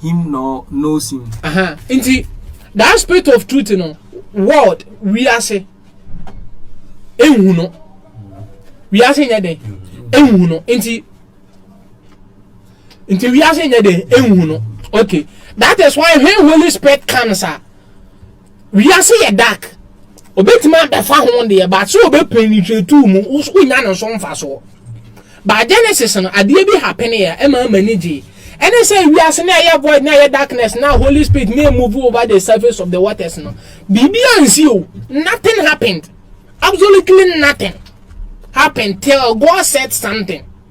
him nor knows him. Uh-huh. Nti, that spirit of truth no, world, wiase, enhu no. Wiase nyɛ den, enhu no. Nti, nti wiase nyɛ den, enhu no. Okay. That is why when Holy Spirit comes, ah, Wiase yɛ dark, obetumi abɛfa ho deɛ but so ɔbɛ penetrate mu, wonya no so mfasoɔ. But Genesis no, adeɛ bi happen yɛ, ɛma m'ani gyee. Ɛne sɛ wiase no a ɛyɛ void na ɛyɛ darkness na Holy Spirit na move over the surface of the waters no, biribi ansi o, nothing happened, absolutely nothing happened till God said something.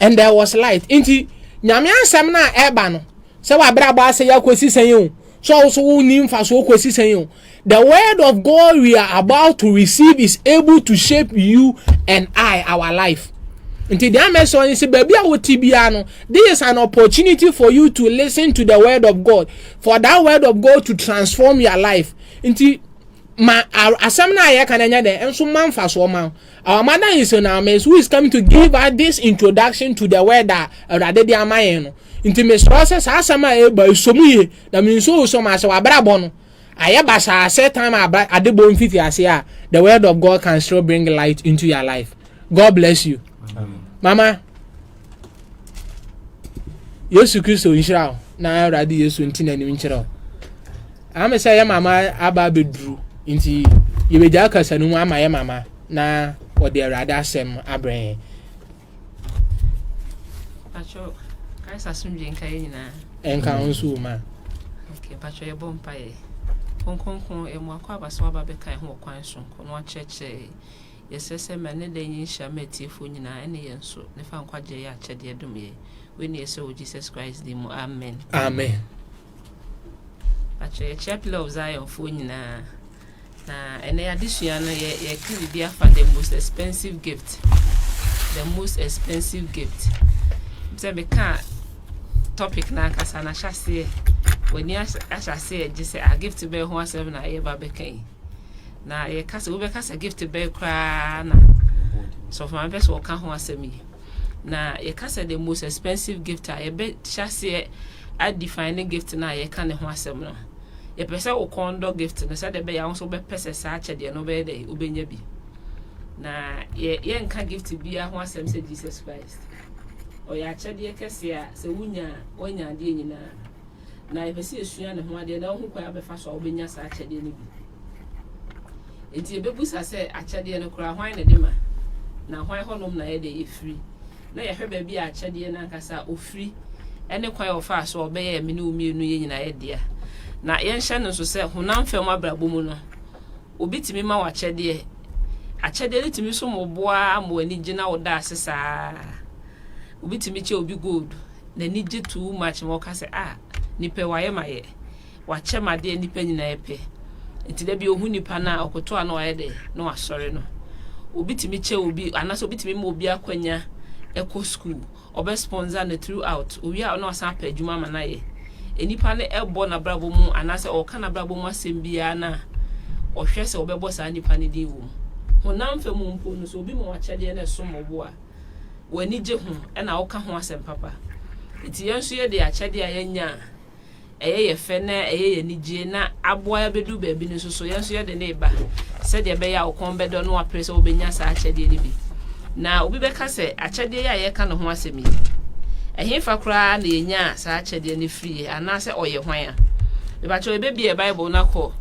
And there was light. Nti, Nyame asɛm no a ɛba no, sɛ w'abrabɔ asɛe akɔsi sɛn o, sɛ wo so wonni mfasoɔ kɔsi sɛn o, the word of God we are about to receive is able to shape you and I, our life. Nti deɛ amɛsɛ ɔne sɛ baabi a wote biara no, this is an opportunity for you to listen to the word of God, for that word of God to transform your life. Nti ma asɛm no a yɛka no nyɛ dɛn, nso ma mfasoɔ ma wo. Our mother in Sonames who is coming to give us this introduction to the word a Awurade de ama yɛn no. Nti mesrɛ sɛ saa asɛm a ɛreba yi sɔ mu yie na menso wo sɔ ma sɛ w'abrabɔ no ayɛ basaa sɛ time a ade bɔ mfiti aseɛ a the word of God can still bring light into your life. God bless you. Mama. yesu kristo nhyira wo na awurade yesu nti n'anim nkyerɛ wo ame sɛ yɛ mama aba abɛduru nti yɛbɛgya akasa no mu ama yɛ mama na ɔde awurade asɛm abrɛ yɛn ɛnka wo nso ma mpakyɛ yɛbɔ mpaeɛ kronkronkron ɛmu akɔ aba sɛ waba bɛka ɛho ɔkwan so kɔ no akyerɛkyerɛ Yɛsrɛ sɛ ma ne dɛ nye nhyira ma etsiefo nyina ne yɛn nso, ne fa nkwagye a ɔyɛ akyɛdeɛ dom yɛ. Wei na yɛsrɛ wɔ Jesus Christ din mu, amen. Amen. Mpakyɛ yɛkyea Pillar of Zion foɔ nyinaa. Na ɛnɛ adesua no yɛ yɛka biribi afa the most expensive gift. The most expensive gift. Sɛ meka topic no ankasa no ahyɛ aseɛ. W'ani ahyɛ aseɛ gye sɛ a ah, gift bɛyɛ ho asɛm na yɛba bɛka yi. na yɛka sɛ wobɛka sɛ gift bɛn koraa na sɔfo maame pɛ sɛ wɔka ho asɛm yi na yɛka sɛ the most expensive gift a yɛbɛhyɛ aseɛ adefine ne gift no a yɛka ne ho asɛm no yɛpɛ sɛ wo kɔn dɔ gift no sɛdeɛ ɛbɛyɛ wo nso wobɛpɛ sɛ saa akyɛdeɛ no wobɛyɛ dɛ wobɛnya bi na yɛnka gift biara ho asɛm sɛ jesus christ ɔyɛ akyɛdeɛ kɛseɛ a sɛ wonya a woanya adeɛ nyinaa Na yɛpɛ sɛ yɛsua ne ho adeɛ na wohu kwan a wobɛfa so a wobɛnya saa akyɛdeɛ no bi. Enti yɛbɛbusa sɛ, akyɛdeɛ no koraa, hwan na ɛde ma? Na hwan hɔnom na ɛyɛ dɛ ɛfiri? Na yɛhwɛ baabi a akyɛdeɛ no ankasa a ɔfiri ne kwan a ɔfaa so a ɔbɛyɛɛ me ne wo mmienu yɛ nyinaa yɛ dea. Na yɛnhyɛ no nso sɛ honam fam abrabɔ mu no, obi tumi ma wo akyɛdeɛ. Akyɛdeɛ no tumi so ma wo boa ma w'ani gyina wo da ase saa. Obi tumi kyɛ obi gold. n'ani gye too much ma ɔka sɛ ah nipa wayɛ mayɛ wakyɛ m'adeɛ nnipa nyinaa pɛ nti da bi ɔhu nipa no a ɔkoto a na wayɛ dɛ na wasɔre no obi tumi kyɛ obi anaasɛ obi tumi ma obi akwanya ɛkɔ school ɔbɛ sponsor no throughout owie a ɔna wasan apɛ adwuma ama no ayɛ nnipa no ɛbɔ n'abrabɔ mu anaasɛ ɔka n'abrabɔ mu asɛm biara no a ɔhwɛ sɛ ɔbɛbɔ saa nnipa no din wɔ mu honam fam mpo no so obi ma wakyɛdeɛ no ɛsom ɔbo a wɔn ani gye ho na woka ho asɛm papa. Enti yɛn nso yɛde akyɛde a yɛanya a ɛyɛ yɛ fɛ na ɛyɛ yɛn anigye na aboa yɛn abɛdu baabi no nso so, yɛn nso yɛde no reba sɛdeɛ ɛbɛyɛ a wo kɔn bɛdɔ na wapere sɛ wobɛnya saa akyɛdeɛ no bi. Na obi bɛka sɛ, akyɛdeɛ yi a yɛka ne ho asɛm yi, ɛhefa koraa na yɛnyaa saa akyɛdeɛ no firiiɛ anaasɛ ɔyɛ hwan a? Mepakyɛw yɛbɛbie Bible no akɔ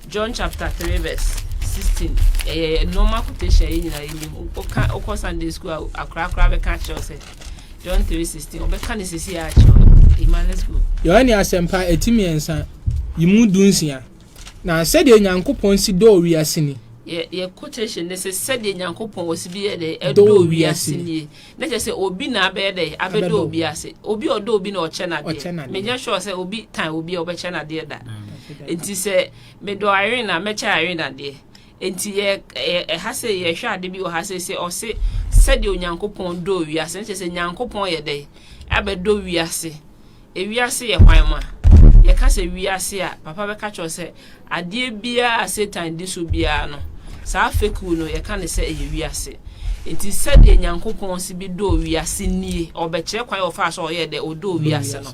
John chapter three verse sixteen ɛyɛ eh, normal quotation yɛ nyinaa yɛ nim ɔka ɔkɔ Sunday school a akorakora bɛka akyerɛw sɛ John three sixteen ɔbɛka ne sisi yɛ akyerɛw ima let's go. Yohane asɛmpa eti mmiɛnsa yi mu du nsia na sɛdeɛ Nyankopɔn si dɔɔ wiase ni. Yɛ yɛ quotation ne sɛ sɛdeɛ Nyankopɔn ɔsi bi yɛ dɛ ɛdɔɔ wiase nie. Na kyerɛ sɛ obi na abɛyɛ dɛ abɛdɔ obi ase. Obi a ɔdɔ obi na ɔkyɛ no adeɛ. Menyɛ sure sɛ obi tan obi a ɔbɛkyɛ no adeɛ da. Nti sɛ medɔ Irene a mɛkyɛ Irene adeɛ. Nti yɛ ɛha sɛ yɛhwɛ ade bi wɔ ha sɛ sɛ ɔse sɛdeɛ Onyankopɔn dɔɔ wiase no kyerɛ sɛ Nyankopɔn yɛ dɛ abɛdɔ wiase. Ewiase yɛ hwan ma? Yɛka sɛ wiase a, papa bɛka kyerɛ wo sɛ adeɛ biara a Satan di so biara no, saa fekuo no, yɛka no sɛ ɛyɛ wiase. Enti sɛdeɛ Nyankopɔn si bi dɔɔ wiase nie, ɔbɛkyerɛ kwan a ɔfaa so a ɔyɛɛ dɛ, ɔdɔɔ wiase no.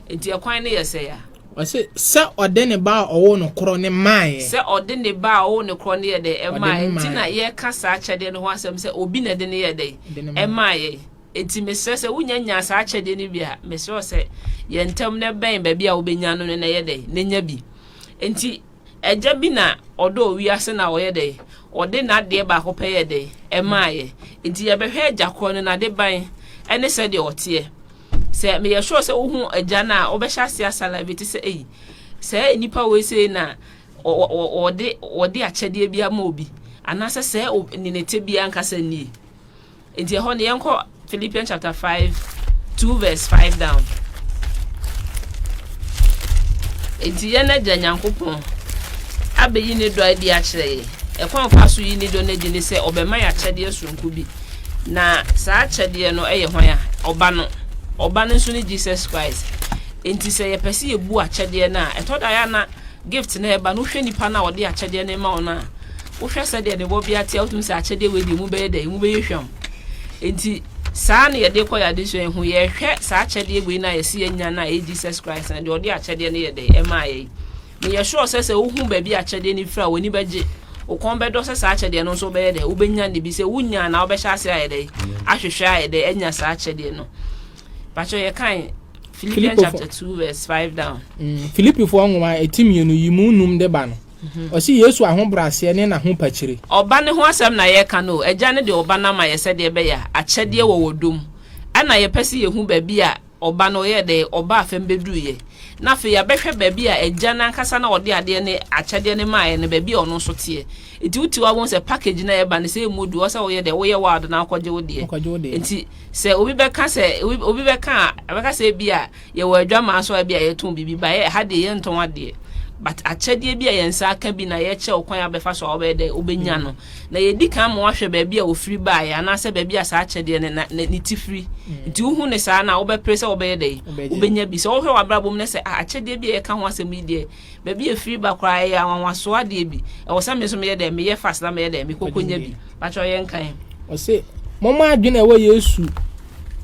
Enti ɛkwan no yɛ sɛn a? Ɔse, sɛ ɔde ne Ba a ɔwoo no korɔ no maeɛ. Sɛ ɔde ne Ba a ɔwoo no korɔ no yɛɛ dɛn? Ɛmaaeɛ. Enti na yɛka saa akyɛdeɛ no ho asɛm sɛ obi na ɛde no yɛɛ dɛn? Ɛmaaeɛ. Enti mesrɛ sɛ wonya nya saa akyɛdeɛ no bi a, mesrɛ wo sɛ yɛ ntɛm na bɛn baabi a wobɛnya no no na yɛ dɛn na nya bi. Enti agya bi na ɔdɔɔ wiase na ɔyɛ dɛn, ɔde n'adeɛ baako pɛ yɛɛ dɛn, ɛmaaeɛ. Enti yɛbɛhwɛ agya korɔ no, n'adeban ne sɛdeɛ ɔteɛ. Sɛ meyɛ sure sɛ wohu agya no a, wobɛhyɛ aseɛ asalivate sɛ ei, sɛɛ nnipa wei sei na wɔde akyɛdeɛ bi ama obi, anaasɛ sɛɛ ne ne tebea ankasa nie. Enti ɛhɔ no yɛnkɔ Philippians chapter 5 2 verse 5 down. Enti yɛn agya Nyankopɔn abɛyi ne dɔ adi akyerɛ yɛ. Ɛkwan fa so yi ne dɔ no adi ne sɛ ɔbɛma yɛ akyɛdeɛ soronko bi. Na saa akyɛdeɛ no yɛ hwan a? Ɔba no. Ɔba no nso ne Jesus Christ. Enti sɛ yɛpɛ sɛ yɛbu akyɛdeɛ no a, ɛtɔ da yɛ na gift no ɛba no wohwɛ nipa no a ɔde akyɛdeɛ no ma wo no a wohwɛ sɛdeɛ ne bɔbea te a wotumi sɛ akyɛdeɛ wei deɛ mu bɛyɛ dɛ mu bɛyɛ hwam nti saa na yɛde kɔ yɛade so ɛho yɛhwɛ saa akyɛdeɛ wei no a yɛsi yɛnya no a ɛyɛ Jesus Christ na deɛ ɔde akyɛdeɛ no yɛ dɛ ɛma yɛ na yɛ sure sɛ sɛ wohu baabi akyɛdeɛ no fira w'ani bɛgye wokɔn bɛdɔ sɛ saa akyɛdeɛ no nso bɛyɛ dɛ wobɛnya ne bi sɛ wonya na wobɛhyɛ ase ayɛ dɛ ahwehwɛ ayɛ dɛ anya saa akyɛdeɛ no Pacho yɛ kan Philippians chapter two verse five down. Mm, Philippifoɔ nwoma ɛti mmienu yi mu num de ba no. Mhm. Ɔsi Yesu ahobrɛaseɛ ne n'ahopakyire. Ɔba ne ho asɛm na yɛka no. Agya no de ɔba no ama yɛ sɛdeɛ ɛbɛyɛ a akyɛdeɛ wɔ wɔ dom. Ɛna yɛpɛ sɛ yɛhu baabi a ɔba no yɛ dɛ ɔba afɛm bɛduruiɛ. Na afei yɛabɛhwɛ baabi a agya no ankasa na ɔde adeɛ ne akyɛdeɛ no maaeɛ no baabi a ɔno nso teɛ. Nti wotiw abom sɛ package no a ɛba no sɛ ɛmu du ɔsɛ woyɛ dɛ woyɛ wild na akɔgye wo deɛ. Nti Sɛ obi bɛka sɛ, obi bɛka a, ɛbɛka sɛ ebia yɛwɔ adwamaa so a ebia yɛtɔn biribi ba, ɛha deɛ yɛntɔn adeɛ. But akyɛdeɛ bi a yɛn nsa aka bi na yɛkyerɛ wo kwan a wobɛfa so a wobɛyɛ dɛ wobɛnya no. Na yɛdi kan ma wahwɛ baabi a ɔfiri baeɛ anaasɛ baabi a saa akyɛdeɛ no na ne ti firi. Nti wohu no saa no a, wobɛpere sɛ wobɛyɛ dɛ wobɛnya bi. Sɛ wohwɛ w'abrabɔ mu na sɛ ah, akyɛdeɛ bi a yɛka ho asɛm yi deɛ, Baabi a ɛfiri ba koraa, ɛyɛ anwanwasoɔ adeɛ bi. Ɛwɔ sɛ me nso meyɛ dɛn? Meyɛ fast na meyɛ dɛn? Mekɔkɔnya bi. Patrɔ yɛ nkan. Ɔse, Momma adwene a ɛwɔ Yesu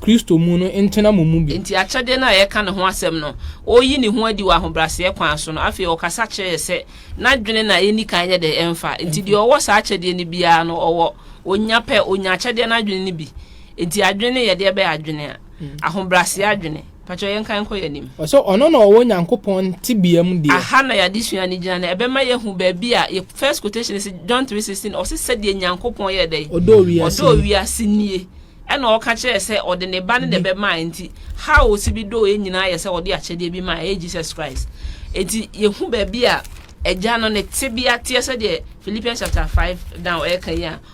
Kristo mu no ntena mo mu bi. Enti akyɛdeɛ no a yɛreka ne ho asɛm no, ɔreyi ne ho adi wɔ ahobrɛaseɛ kwan so no, afei ɔkasa kyerɛ yɛn sɛ n'adwene na yɛnni kan nyɛ dɛn? Ɛmfa. Enti deɛ ɔwɔ saa akyɛdeɛ no biara no, ɔwɔ. Ɔnya pɛ, ɔnya akyɛdeɛ no adwene no bi. Enti adwene no yɛ deɛ bɛn adwene? Ahobrɛaseɛ adwene. Fa kyɛw yɛn kan kɔ yɛn anim. Ɔsɛ ɔno na ɔwɔ Nyankopɔn tebea mu deɛ. Aha na y'adesua no gyina no ɛbɛma y'ahu baabi a yɛ first quotation no si John three sixteen ɔse sɛdeɛ Nyankopɔn yɛɛ dɛn? Ɔdɔɔ wiase Ɔdɔɔ nie. wiase nie ɛna ɔka kyerɛɛ sɛ ɔde ne ba no na Bi. ɛbɛmaɛ nti how ɔse bi dɔɔ yɛn nyinaa yɛ sɛ ɔde akyɛdeɛ bi maɛ ɛyɛ Jesus Christ nti yɛhu baabi a Agya no ne tebea teɛ sɛdeɛ Philippians chapter five down ɛɛka yi a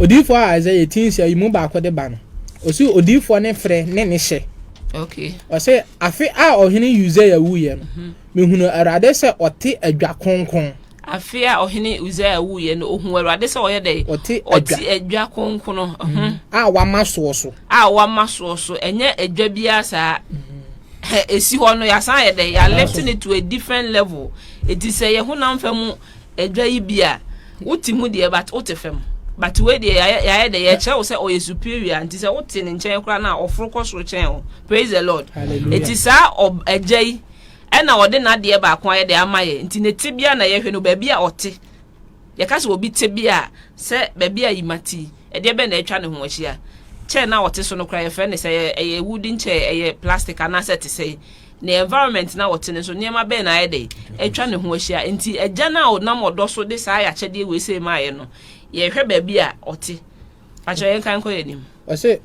Odiyifo a Isaiah ti nhyɛ yi mu baako de ba no, ɔsi odiyifoɔ ne frɛ ne ne hyɛ. Ɔse, afe a ɔhene Usia wuiɛ no, mhm. mehunu Awurade sɛ ɔte adwa kronkron. Afe a ɔhene Usia wuiɛ no, ɔhu Awurade sɛ ɔyɛ dɛ ɔte adwa kronkron mhm. Mhm. a wama soɔ so. A wama soɔ so, ɛnyɛ adwa biara saa. Ɛsi hɔ no, yɛasan yɛ dɛ yɛalɛte no to a different level. Ɛti sɛ yɛ honam fa mu Adwa yi bi a wo te mu deɛ but wo te fam but wei deɛ yɛayɛ dɛ yɛkyerɛ wo sɛ ɔyɛ superior nti sɛ wo te ne nkyɛn koraa no a ɔforo kɔ soro kyɛn wo praise the lord ɛti saa agya yi ɛna ɔde n'adeɛ baako ayɛ dɛ ama yɛ nti ne te bia na yɛhwɛ no baabi a ɔte yɛka sɛ obi te bia sɛ baabi a yima ti ɛdeɛ bɛn na atwa ne ho ahyia kyɛ na ɔte so no koraa yɛfrɛ ne sɛ ɛyɛ wooden kyɛ ɛyɛ plastic anaasɛ te sɛ Ne environment no a ɔte no nso, nneɛma bɛn na ayɛ dɛn? Atwa ne ho ahyia. Enti Agya no a ɔnam ɔdɔ so de saa akyɛdeɛ wei sei maaeɛ no, yɛhwɛ baabi a ɔte. Fa kyerɛ yɛn kan nkɔ yɛn anim. Ɔse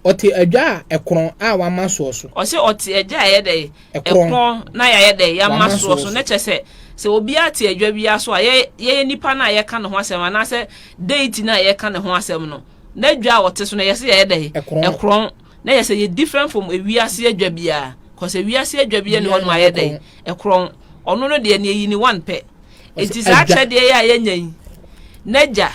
ɔte adwa a ɛkorɔn a wɔama soɔ so. Ɔse ɔte adwa a ɛyɛ dɛn? Ɛkorɔn na yɛayɛ dɛn? Yɛama soɔ so. Na kyerɛ sɛ, sɛ obiara te adwa biara so a, yɛyɛ nipa no a yɛka ne ho asɛm anaasɛ Deity no a yɛka ne ho asɛm no, n'adwa a ɔte so no, ɛyɛ sɛ yɛyɛ dɛn? Ɛkorɔn. Na yɛ sɛ yɛ different from ewiase adwa biara, cause ewiase adwa biara ni hɔ nom ayɛ dɛn ɛkorɔn, ɔno no deɛ neɛ yi ne one pɛ, eti saa akyɛdeɛ yɛ a yɛnya yi, n'agya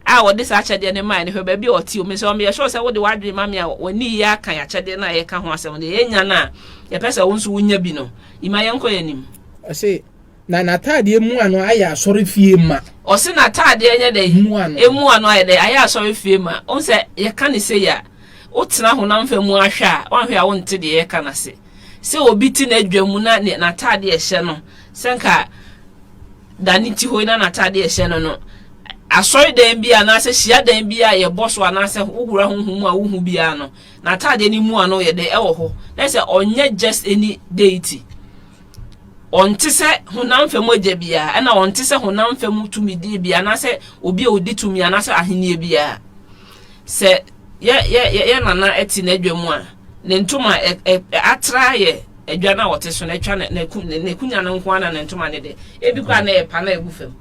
a ɔde saa akyɛdeɛ no mae no hwɛ baabi a ɔte o, mesrɛ wo meyɛ sure sɛ wode w'adwene ma me a w'ani reyɛ akan akyɛdeɛ no a yɛka ho asɛm no, yɛnya no a yɛpɛ sɛ wo nso wonya bi no, Ima yɛnkɔ yɛn anim. Ɔse Na n'ataadeɛ mu ano ayɛ asɔrefie ma. Ɔse n'ataadeɛ nyɛ dɛn? Mu ano. Emu ano ayɛ dɛn? Ayɛ asɔrefie ma. Wohu sɛ yɛka no sei a, wotena honam fam mu ara hwɛ a, woanhwɛ a wonte deɛ yɛreka no ase. Sɛ obi te n'adwa mu na ne n'ataadeɛ a ɛhyɛ no, sɛ nka da ne ti hɔ yi na n'ataadeɛ a ɛhyɛ no no, asɔredan bi anaasɛ hyiadan bi a yɛbɔ so anaasɛ wohura honhom mu a wohu biara no, n'ataadeɛ no mu ano yɛ dɛn? Ɛwɔ hɔ. Na sɛ ɔnyɛ just any deity. Ɔnte sɛ honam fam agya biara, ɛnna ɔnte sɛ honam fam tumidie biara anaasɛ obi a ɔdi tumi anaasɛ ahennie biara. Sɛ yɛ yɛ yɛ yɛ nana te n'adwa mu a, ne ntoma ɛ ɛ atra yɛ adwa no a ɔte so no atwa ne ne n'akunya no nko ara na ne ntoma no deɛ ebi koraa na ɛyɛ pa na ɛgu fam.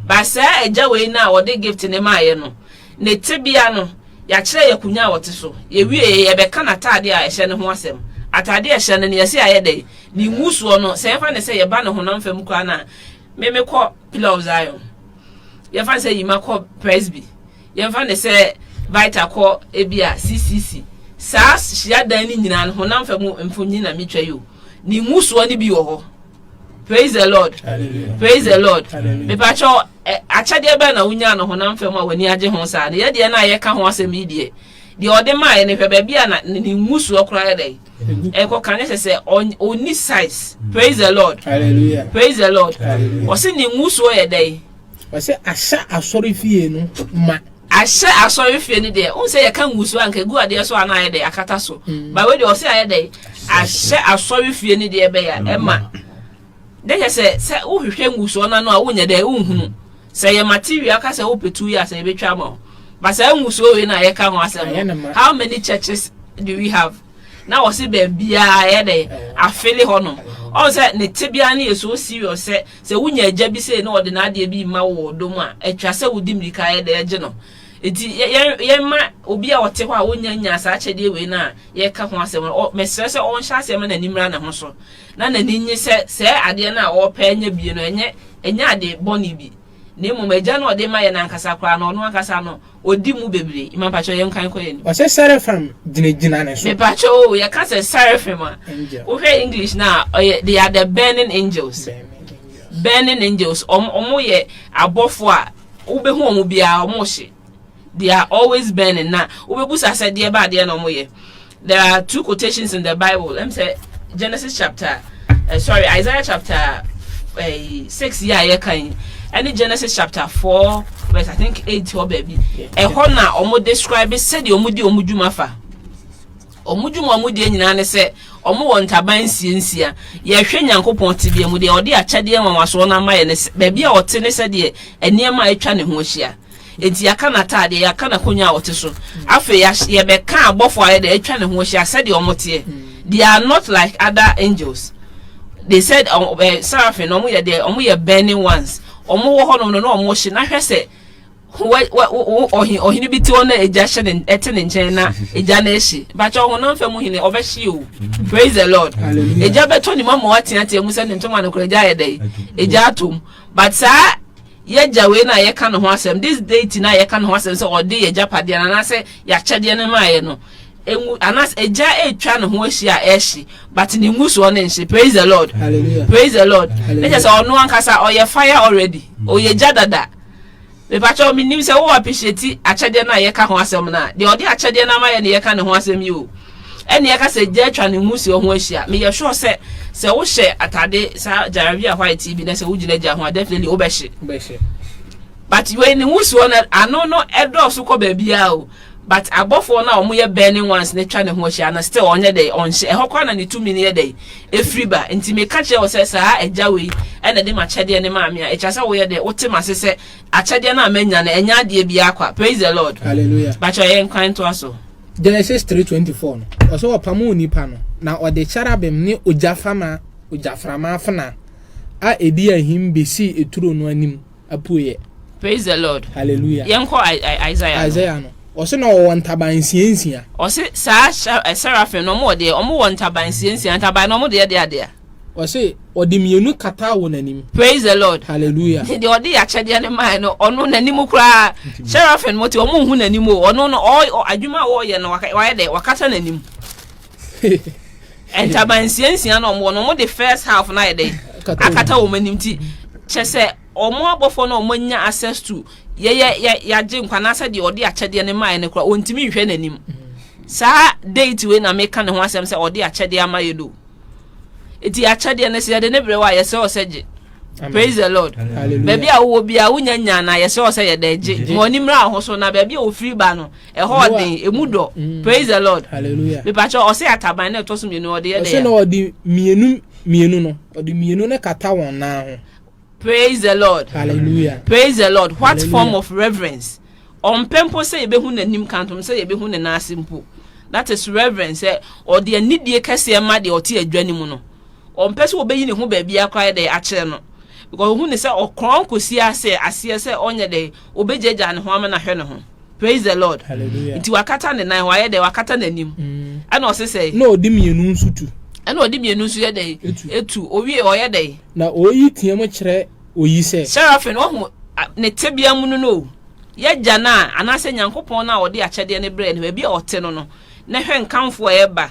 Ba saa agya wei no a ɔde gift no maaeɛ no, Ne tebea no, Yɛakyerɛ y'akonya a ɔte so. Yɛwiee, yɛbɛka n'atade a ɛhyɛ no ho asɛm. Atade a ɛhyɛ no no, yɛse ayɛ dɛn? Ne ngusoɔ no, sɛ yɛfa no sɛ yɛba ne honam fam koraa no a, Me mekɔ Pillar of Zion. Yɛmfa no sɛ Yima kɔ Presby. Yɛmfa no sɛ Vita kɔ ebia CCC. Saa hyiadan no nyinaa no, honam fam mfonyin na metwa yi o, ne ngusoɔ no bi wɔ hɔ. Praise the Lord. Hallelujah. Praise the Lord. Mepakyɛw eh, akyɛdeɛ bɛn na wonya no honam fam a w'ani agye ho saa no yɛ deɛ no a yɛka ho asɛm yi deɛ deɛ ɔde maaeɛ no hwɛ baabi a na ne ngusoɔ koraa yɛ dɛn ɛkɔ ka ne sɛ sɛ ɔni size praise the lord Hallelujah. praise the lord ɔse ne ngusoɔ yɛ dɛn Ɔse ahyɛ asɔrefie no ma. Ahyɛ asɔrefie no deɛ wohu sɛ yɛka ngusu a nka egu adeɛ so a na ayɛ dɛ akata so ba wei deɛ ɔse ayɛ dɛ ahyɛ asɔrefie no deɛ bɛyɛ a ɛma dɛ kyɛ sɛ sɛ wohwehwɛ ngusoɔ no ano a wonyɛ dɛ wonhunu sɛ ɛyɛ material ka sɛ wopɛ tuo yi a sɛ yɛbɛtwa ama wo ba saa ngusoɔ wei na yɛka ho asɛm no how many churches do we have Na ɔse baabiaa ɛyɛ dɛ afele hɔ nom. Ɔhu sɛ ne tebea no yɛ so serious sɛ sɛ wonya agya bi sei na ɔde n'adeɛ bi rema wo wɔ ɔdɔ mu a, atwa sɛ wodi mmirika yɛ dɛ gye no. Nti yɛn mma obi a ɔte hɔ a ɔnnya nnyaa saa akyɛdeɛ wei no a yɛreka ho asɛm no, mesrɛ sɛ ɔnhyɛ aseɛ mma n'ani mmra ne ho so na n'ani nnye sɛ saa adeɛ no a ɔrepɛ anya bie no ɛnyɛ ɛnyɛ ade bɔne bi. na mmom Agya no a ɔde ma yɛn no ankasa koraa no, ɔno ankasa no, ɔdi mu bebree. Mma mpakyɛw, yɛnkan nkɔ yɛn anim. Ɔse Seraphim gyinagyina ne so. Mepakyɛw oo, yɛka sɛ Seraphim a, wohwɛ English no a, ɔyɛ, they are the burning angels. Burning angels. Wɔn, wɔyɛ abɔfoɔ a, wobɛhu wɔn biara, wɔhye. They are always burning. Na wobɛbusa sɛ deɛ ba adeɛ na wɔyɛ. There are two quotations in the Bible. Ɛm sɛ Genesis chapter, uh, sorry, Isaiah chapter uh, 6 yɛ a yɛka yi, ɛne Genesis chapter 4 verse I think 8 hɔ baabi. Ɛhɔ na wɔn describe sɛdeɛ wɔn di wɔn dwuma fa. Wɔn dwuma wɔn deɛ nyinaa ne sɛ wɔn wɔ ntaban nsiansia. Yɛhwɛ Nyankopɔn tebea mu deɛ ɔde akyɛdeɛ nwanwasoɔ no ama yɛ ne baabi a ɔte ne sɛdeɛ nneɛma a atwa ne ho ahyia. Enti yɛaka n'ataadeɛ, yɛaka n'akonnwa a ɔte so. Afei yɛahy yɛbɛka abɔfoɔ a ayɛ dɛ atwa ne ho ahyia sɛdeɛ wɔteɛ. They are not like other angels. They said, ɔ ɛ seraphim no, wɔyɛ deɛ wɔyɛ burning ones. Wɔwɔ hɔnom no na wɔhye na hwɛ sɛ ho wɛ wɛ wo wo ɔhe ɔhene bi te hɔ na egya hyɛ ne ɛte ne nkyɛn na egya no ahye. Mpakyɛw honam fam hene ɔbɛhye o. Praise the Lord. Hallelujah. Egya bɛtɔ ne mu ama wateatea mu sɛ ne ntoma no koraa egya ayɛ dɛn? Egya atɔ mu. But saa Y'agya wei na yɛka ne ho asɛm, this deity no a yɛka ne ho asɛm sɛ ɔde y'agyapadeɛ no anaasɛ y'akyɛdeɛ no maeɛ no, ngu, anaasɛ egya retwa ne ho ahyia a ɛrehye, but ne ngusoɔ no nhye. Praise the Lord. Hallelujah. Praise the Lord. Na kyerɛ Hallelujah. sɛ ɔno ankasa ɔyɛ fire already. Ɔyɛ gya dada. Mepakyɛw menim sɛ wo appreciate akyɛdeɛ no a yɛka ho asɛm no a, deɛ ɔde akyɛdeɛ no amayɛ no yɛka ne ho asɛm yi o. ɛnneɛ ka sɛ gya atwa ne mmusuo ho ahyia. Meyɛ sure sɛ sɛ wohyɛ atade saa gyarabia white yi bi na sɛ wogyina gya ho a definitely wobɛhye. Wobɛhye. But wei ne wusuo no ano no ɛdɔɔso kɔ baabiara o. But abɔfoɔ no a wɔyɛ burning ones no twa ne ho ahyia no still ɔnyɛ dɛ ɔnhyɛ. Ɛhɔ koraa na ne tumi no yɛ dɛ ɛfiri ba. Nti meka kyerɛ wo sɛ saa agya wei ɛna de m'akyɛdeɛ no maa me a ɛkyerɛ sɛ woyɛ dɛ wote m'ase sɛ akyɛdeɛ no a manya no ɛnyɛ adeɛ biara kwa. Praise the Lord. Hallelujah. Bakyɛ yɛnkwan ntoa so. Genesis 3:24 no, ɔsɛ ɔpam onipa no, na ɔde cherubim ne ogyafama, ogyaframa afena a edi ahim besii eturo no anim apueɛ. Praise the Lord. Hallelujah. Yɛn kɔ Isaiah no. Isaiah no, ɔsɛ na ɔwɔ ntaban nsia nsia. Ɔsɛ saa eh, seraphim no, ɔmo wɔ deɛ, ɔmo wɔ ntaban nsia nsia, ntaban no ɔmo deɛ deɛ adeɛ. Ɔse ɔde mmienu kataa won anim. Praise the Lord. Hallelujah. Nti deɛ ɔde akyɛdeɛ no mae no, ɔno n'anim koraa, seraphim mo te, ɔmo nhu n'anim o, ɔno no, ɔ, adwuma a ɔɔyɛ no, waka, wayɛ dɛ, wakata n'anim. Ntaban nsia nsia na ɔmo wɔ no, ɔmo de first half no ayɛ dɛ, akata wɔn anim ti. Kyɛ sɛ, ɔmo abɔfoɔ no a ɔmo anya access to, yɛyɛ, yɛ, yɛagye nkwa, anaasɛ deɛ ɔde akyɛdeɛ no mae no koraa, ɔntumi nhwɛ n'anim. Saa deity wei na meka ne ho asɛm sɛ ɔde akyɛdeɛ ama yɛ no o. Eti akyɛdeɛ no sɛ yɛde ne berɛ wɔ a yɛsɛ wɔ sɛ gye. Praise the Lord. Baabi a wowɔ biara wonya nya na yɛsɛ wɔ sɛ yɛde gye. Ma w'ani mmra ho so na baabi a ofiri ba no ɛhɔ ɔden emu dɔ. Mm. Praise the Lord. Mipakyɛ ɔsɛ ataban na ɛtɔ so mmienu ɔde yɛ dɛ. Ɔsɛ na ɔde mmienu mmienu no ɔde mmienu no kata wɔn nan ho. Praise the Lord Hallelujah Praise the Lord What Hallelujah. form of reverence Ɔmpɛ mpo sɛ yɛbɛhu n'anim ka ntom sɛ yɛbɛhu ne nan ase mpo That is reverence sɛ ɔde anidie kɛseɛ ma deɛ ɔte adwa no mu no Ɔmpɛ sɛ ɔbɛyi ne ho baabiara koraa dɛ akyerɛ no Because ɔhu ne sɛ ɔkorɔn kɔsi ase aseɛ sɛ ɔnyɛ dɛ ɔbɛgyagyaa ne ho ama no ahwɛ ne ho praise the lord nti wakata ne nan wayɛ dɛ wakata n'anim mm. ɛna ɔse sɛ na ɔde mmienu nso tu ɛna ɔde mmienu nso yɛ dɛ etu owie ɔyɛ dɛ na oyi teɛ mu kyerɛ oyi sɛ serafin ɔho ne tebea mu no no yɛgya no a anaasɛ nyankopɔn no a ɔde akyɛdeɛ no brɛ no baabi a ɔte no no na hwɛ nkamfo a ɛba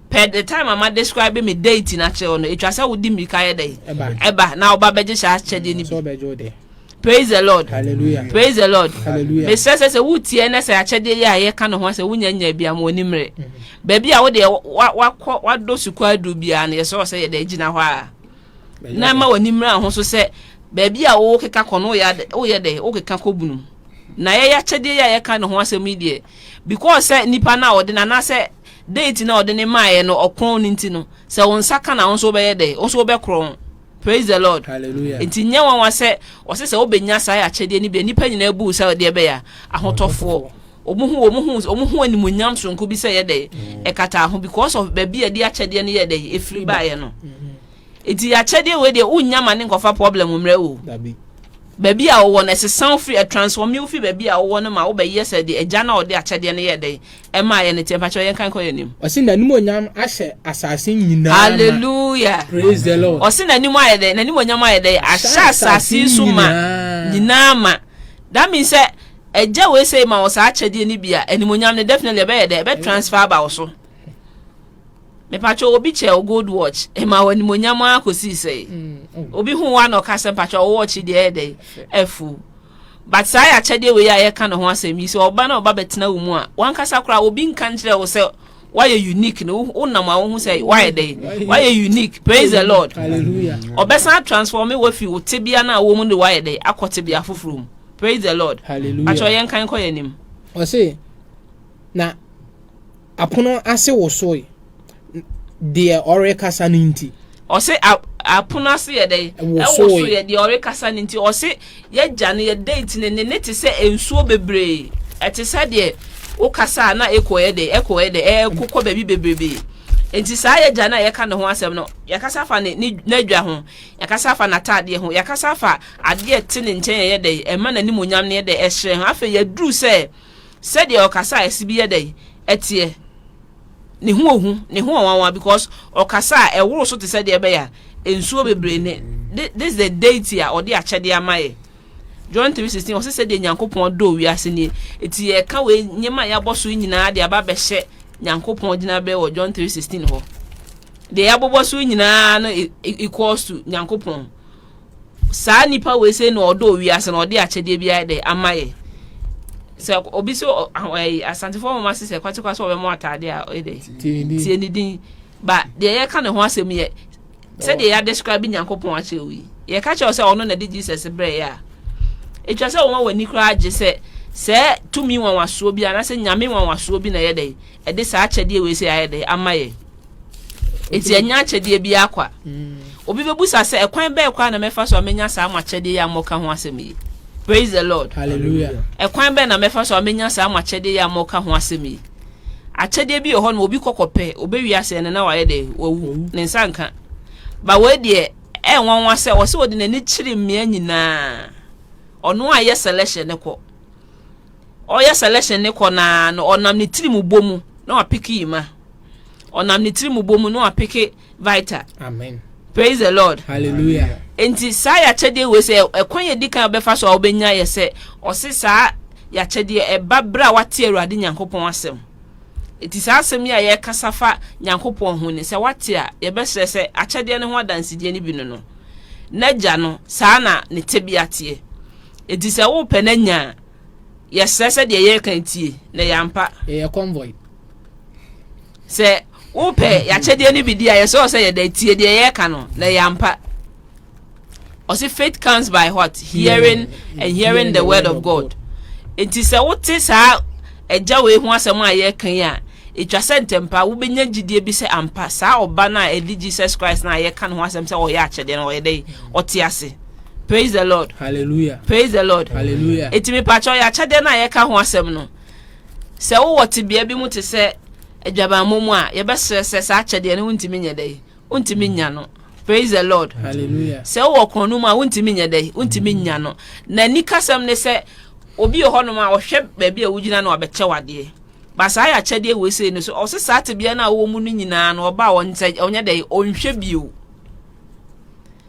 Pɛ the time a ma describe me deity no akyerɛ wo no, ɛtwa sɛ wode mmirika yɛ dɛn? Ɛba. Na ɔba bɛgye saa akyɛdeɛ no bi. Praise the Lord. Hallelujah. Praise the Lord. Hallelujah. Mesrɛ sɛ sɛ wotie na sɛ akyɛdeɛ yi a yɛka no ho sɛ wonya nya bi ama w'ani mmerɛ. Mm-hmm. Baabi a wodeɛ wakɔ wadɔ sukuu aduru biara no yɛsɛ sɛ yɛde gyina hɔ a. Na ma w'ani mmerɛ ho so sɛ baabi a wokeka kɔ no woyɛ dɛ wokeka kɔ bunu. Na yɛyɛ akyɛdeɛ yi a yɛka no ho asɛm yi deɛ because sɛ nipa no a ɔde no anaasɛ Dɛn nti na ɔde no maeɛ no ɔkrɔn no nti no sɛ wo nsa ka no a wo nso wobɛyɛ dɛn? Wo nso wobɛkrɔn. Praise the Lord. Hallelujah. Nti nyɛ nwanwa sɛ wɔse sɛ wobɛnya saa akyɛdeɛ no bi a nnipa nyinaa bu wo sɛ deɛ ɛbɛyɛ a ahotɔfoɔ. Wɔn hu wɔn ho wɔn ho animuonyam sononko bi sɛ ɛyɛ dɛn? Ɛkataa ho because of baabi a ɛde akyɛdeɛ no yɛɛ dɛn? Ɛfiri baeɛ no. Nti akyɛdeɛ wei deɛ wonnya ma ne nkɔfa problem mmerɛ wo. Dabi. Baabi a wowɔ no ɛsesa wo firi ɛtransform wo firi baabi a wowɔ no ma wobɛyɛ sɛ deɛ agya no a ɔde akyɛdeɛ no yɛɛ dɛn? Ɛma yɛ ne teɛ mpakyɛw yɛn kan kɔ yɛ nim. Ɔsi na nim onyam ahyɛ asase nyinaa ma. Hallelujah. Praise the Lord. Ɔsi na nim ayɛ dɛ na nim onyam ayɛ dɛ ahyɛ asase so ma nyinaa ma. That means sɛ ɛgya wei sɛ ma wɔ saa akyɛdeɛ no bi a ɛnim onyam no definitely ɛbɛyɛ dɛ ɛbɛ transfer aba wɔ so. Mepakyɛ obi kyɛ o gold watch ɛma wɔ anim onyam akɔsi sɛ mm, mm. obi ho wa na ɔka sɛ mpakyɛ ɔwɔ ɔkye deɛ ɛyɛ dɛ ɛfu. But saa yɛ akyɛdeɛ wei a yɛreka ne ho asɛm yi, sɛ ɔba na ɔba bɛtena wo mu a, w'ankasa koraa obi nka nkyerɛ wo sɛ woayɛ unique no, wonam a wohu sɛ woayɛ dɛ, woayɛ unique, praise the Lord. Ɔbɛsan transforme wafi wo tebea no a wɔ mu de woayɛ dɛ akɔ tebea foforɔ mu, praise the Lord. Atwerɛ yɛn kan kɔ yɛn anim. Ɔse. Na apono ase wosoe, deɛ ɔrekasa no nti. Ɔse apono ase yɛ dɛn? Ɛwosoeɛ, deɛ ɔrekasa no nti. Ɔse yɛagya no, yɛ date no, ne ne te sɛ nsuo bebree. Ɛte sɛ deɛ wokasa a na echo yɛ dɛn? Echo yɛ dɛn? Ɛko kɔ baabi bebrebee. Nti saa yɛagya no a yɛka ne ho asɛm no, yɛakasa afa ne ne n'adwa ho, yɛakasa afa n'ataadeɛ ho, yɛakasa afa adeɛ a ɛte ne nkyɛn a ɛyɛ dɛn? Ɛma n'animuonyam no yɛ dɛn? Ɛhyerɛn ho. Afei yɛaduru sɛ. sɛdeɛ ɔkasa a ɛse bi yɛ dɛn ɛteɛ ne ho ohu ne ho ɔwanwa because ɔkasa a ɛworo so te sɛ deɛ ɛbɛyɛ a nsuo bebree ne this the deity a ɔde akyɛdeɛ ama yɛ John 3:16 ɔse sɛdeɛ Nyankopɔn dɔɔ wiase nie eti yɛka wei nneɛma a yɛabɔ so nyinaa de aba bɛhyɛ Nyankopɔn gyinaberɛ wɔ John 3:16 hɔ deɛ yɛabobɔ so nyinaa no e, e, equals to Nyankopɔn saa nipa wei sɛ na ɔdɔ wiase na ɔde akyɛdeɛ bi ayɛ dɛ ama yɛ sɛ obi sɛ asantefoɔ mama se sɛ kwatekwa sɛ ɔbɛmɔ ataade a ɔyɛ dɛ tie ne din ba deɛ yɛka ne ho asɛm yɛ sɛdeɛ yɛadescribe nyankopɔn akyerɛ wo yi yɛka kyerɛ sɛ ɔno na de jesus berɛeɛ a ɛtwa sɛ wɔma w'ani koraa agye sɛ sɛ tumi nwanwasoɔ bi anaasɛ nyame nwanwasoɔ bi na ɛyɛ dɛ ɛde saa akyɛdeɛ wei sɛ ayɛ dɛ ama yɛ Enti ɛnyɛ akyɛdeɛ bi ara kwa. Obi bɛbusa sɛ, ɛkwan bɛn koraa na mɛfa so a mɛnya saa mo akyɛdeɛ yi a moka ho asɛm yi? Praise the Lord. Hallelujah. Ɛkwan bɛn na mɛfa so a mɛnya saa mo akyɛdeɛ yi a moka ho asɛm yi? Akyɛdeɛ bi wɔ hɔ no obi kɔkɔ pɛ, ɔbɛwie asɛn no na wayɛ dɛ, wawu, ne nsa nka. Ba wei deɛ, ɛyɛ nwanwa sɛ ɔsɛ ɔde n'ani kyere mmea nyinaa. Ɔno a yɛ selection ne kɔ. Ɔyɛ selection ne kɔ naa no, ɔnam ne tirim bɔ mu na wapeke yi ma. ɔnam ne tirimubɔ mu na wapeke vita amen praise the lord hallelujah nti saa yɛakyɛdeɛ wei sɛ ɛkwan yɛ di kan ɔbɛfa so a wobɛnya yɛ sɛ ɔse saa yɛakyɛdeɛ ɛba berɛ a wate awurade nyankopɔn asɛm nti saa asɛm yi a yɛkasa fa nyankopɔn ho ne sɛ wate a yɛbɛsrɛ sɛ akyɛdeɛ no ho adansedie no bi no no n'agya no saa na ne tebea teɛ nti sɛ wopɛ no anya a yɛsrɛ sɛ deɛ yɛreka ntie na yɛ ampa. yɛyɛ convoy. sɛ wopɛ yɛakyɛdeɛ no bi di a yɛsɛ wɔ sɛ yɛda tie deɛ yɛreka no na yɛ ampa. ɔse faith comes by what hearing and hearing the word of god nti sɛ wote saa agya wei ho asɛm a yɛreka yi a ɛtwa sɛ ntɛmpa wobɛnya gyidie bi sɛ ampa saa ɔba no a ɛde jesus christ no a yɛka ne ho asɛm sɛ ɔyɛ akyɛdeɛ no ɔyɛ dɛ ɔte ase Praise the Lord. Hallelujah. Praise the Lord. Hallelujah. Eti mi pakyɛw yɛ akyɛdeɛ no a yɛka ho asɛm no. Sɛ wowɔ tebea bi mu te sɛ adwabammɔ mu a, yɛbɛsrɛ sɛ saa akyɛdeɛ no wontumi nyɛ dɛ yi. Wontumi nya no. Praise the Lord. Hallelujah. Sɛ wowɔ kɔn no mu a wontumi nyɛ dɛ yi. Wontumi nya no. Na nikasɛm ne sɛ obi wɔ hɔnom a ɔhwɛ baabi a wogyina no abɛkyɛ wadeɛ. Ba saa yɛ akyɛdeɛ wɔ esei no so. Ɔsɛ saa tebea no a wowɔ mu no nyinaa no ɔba a ɔnyɛ dɛ yi, ɔnhwɛ bio.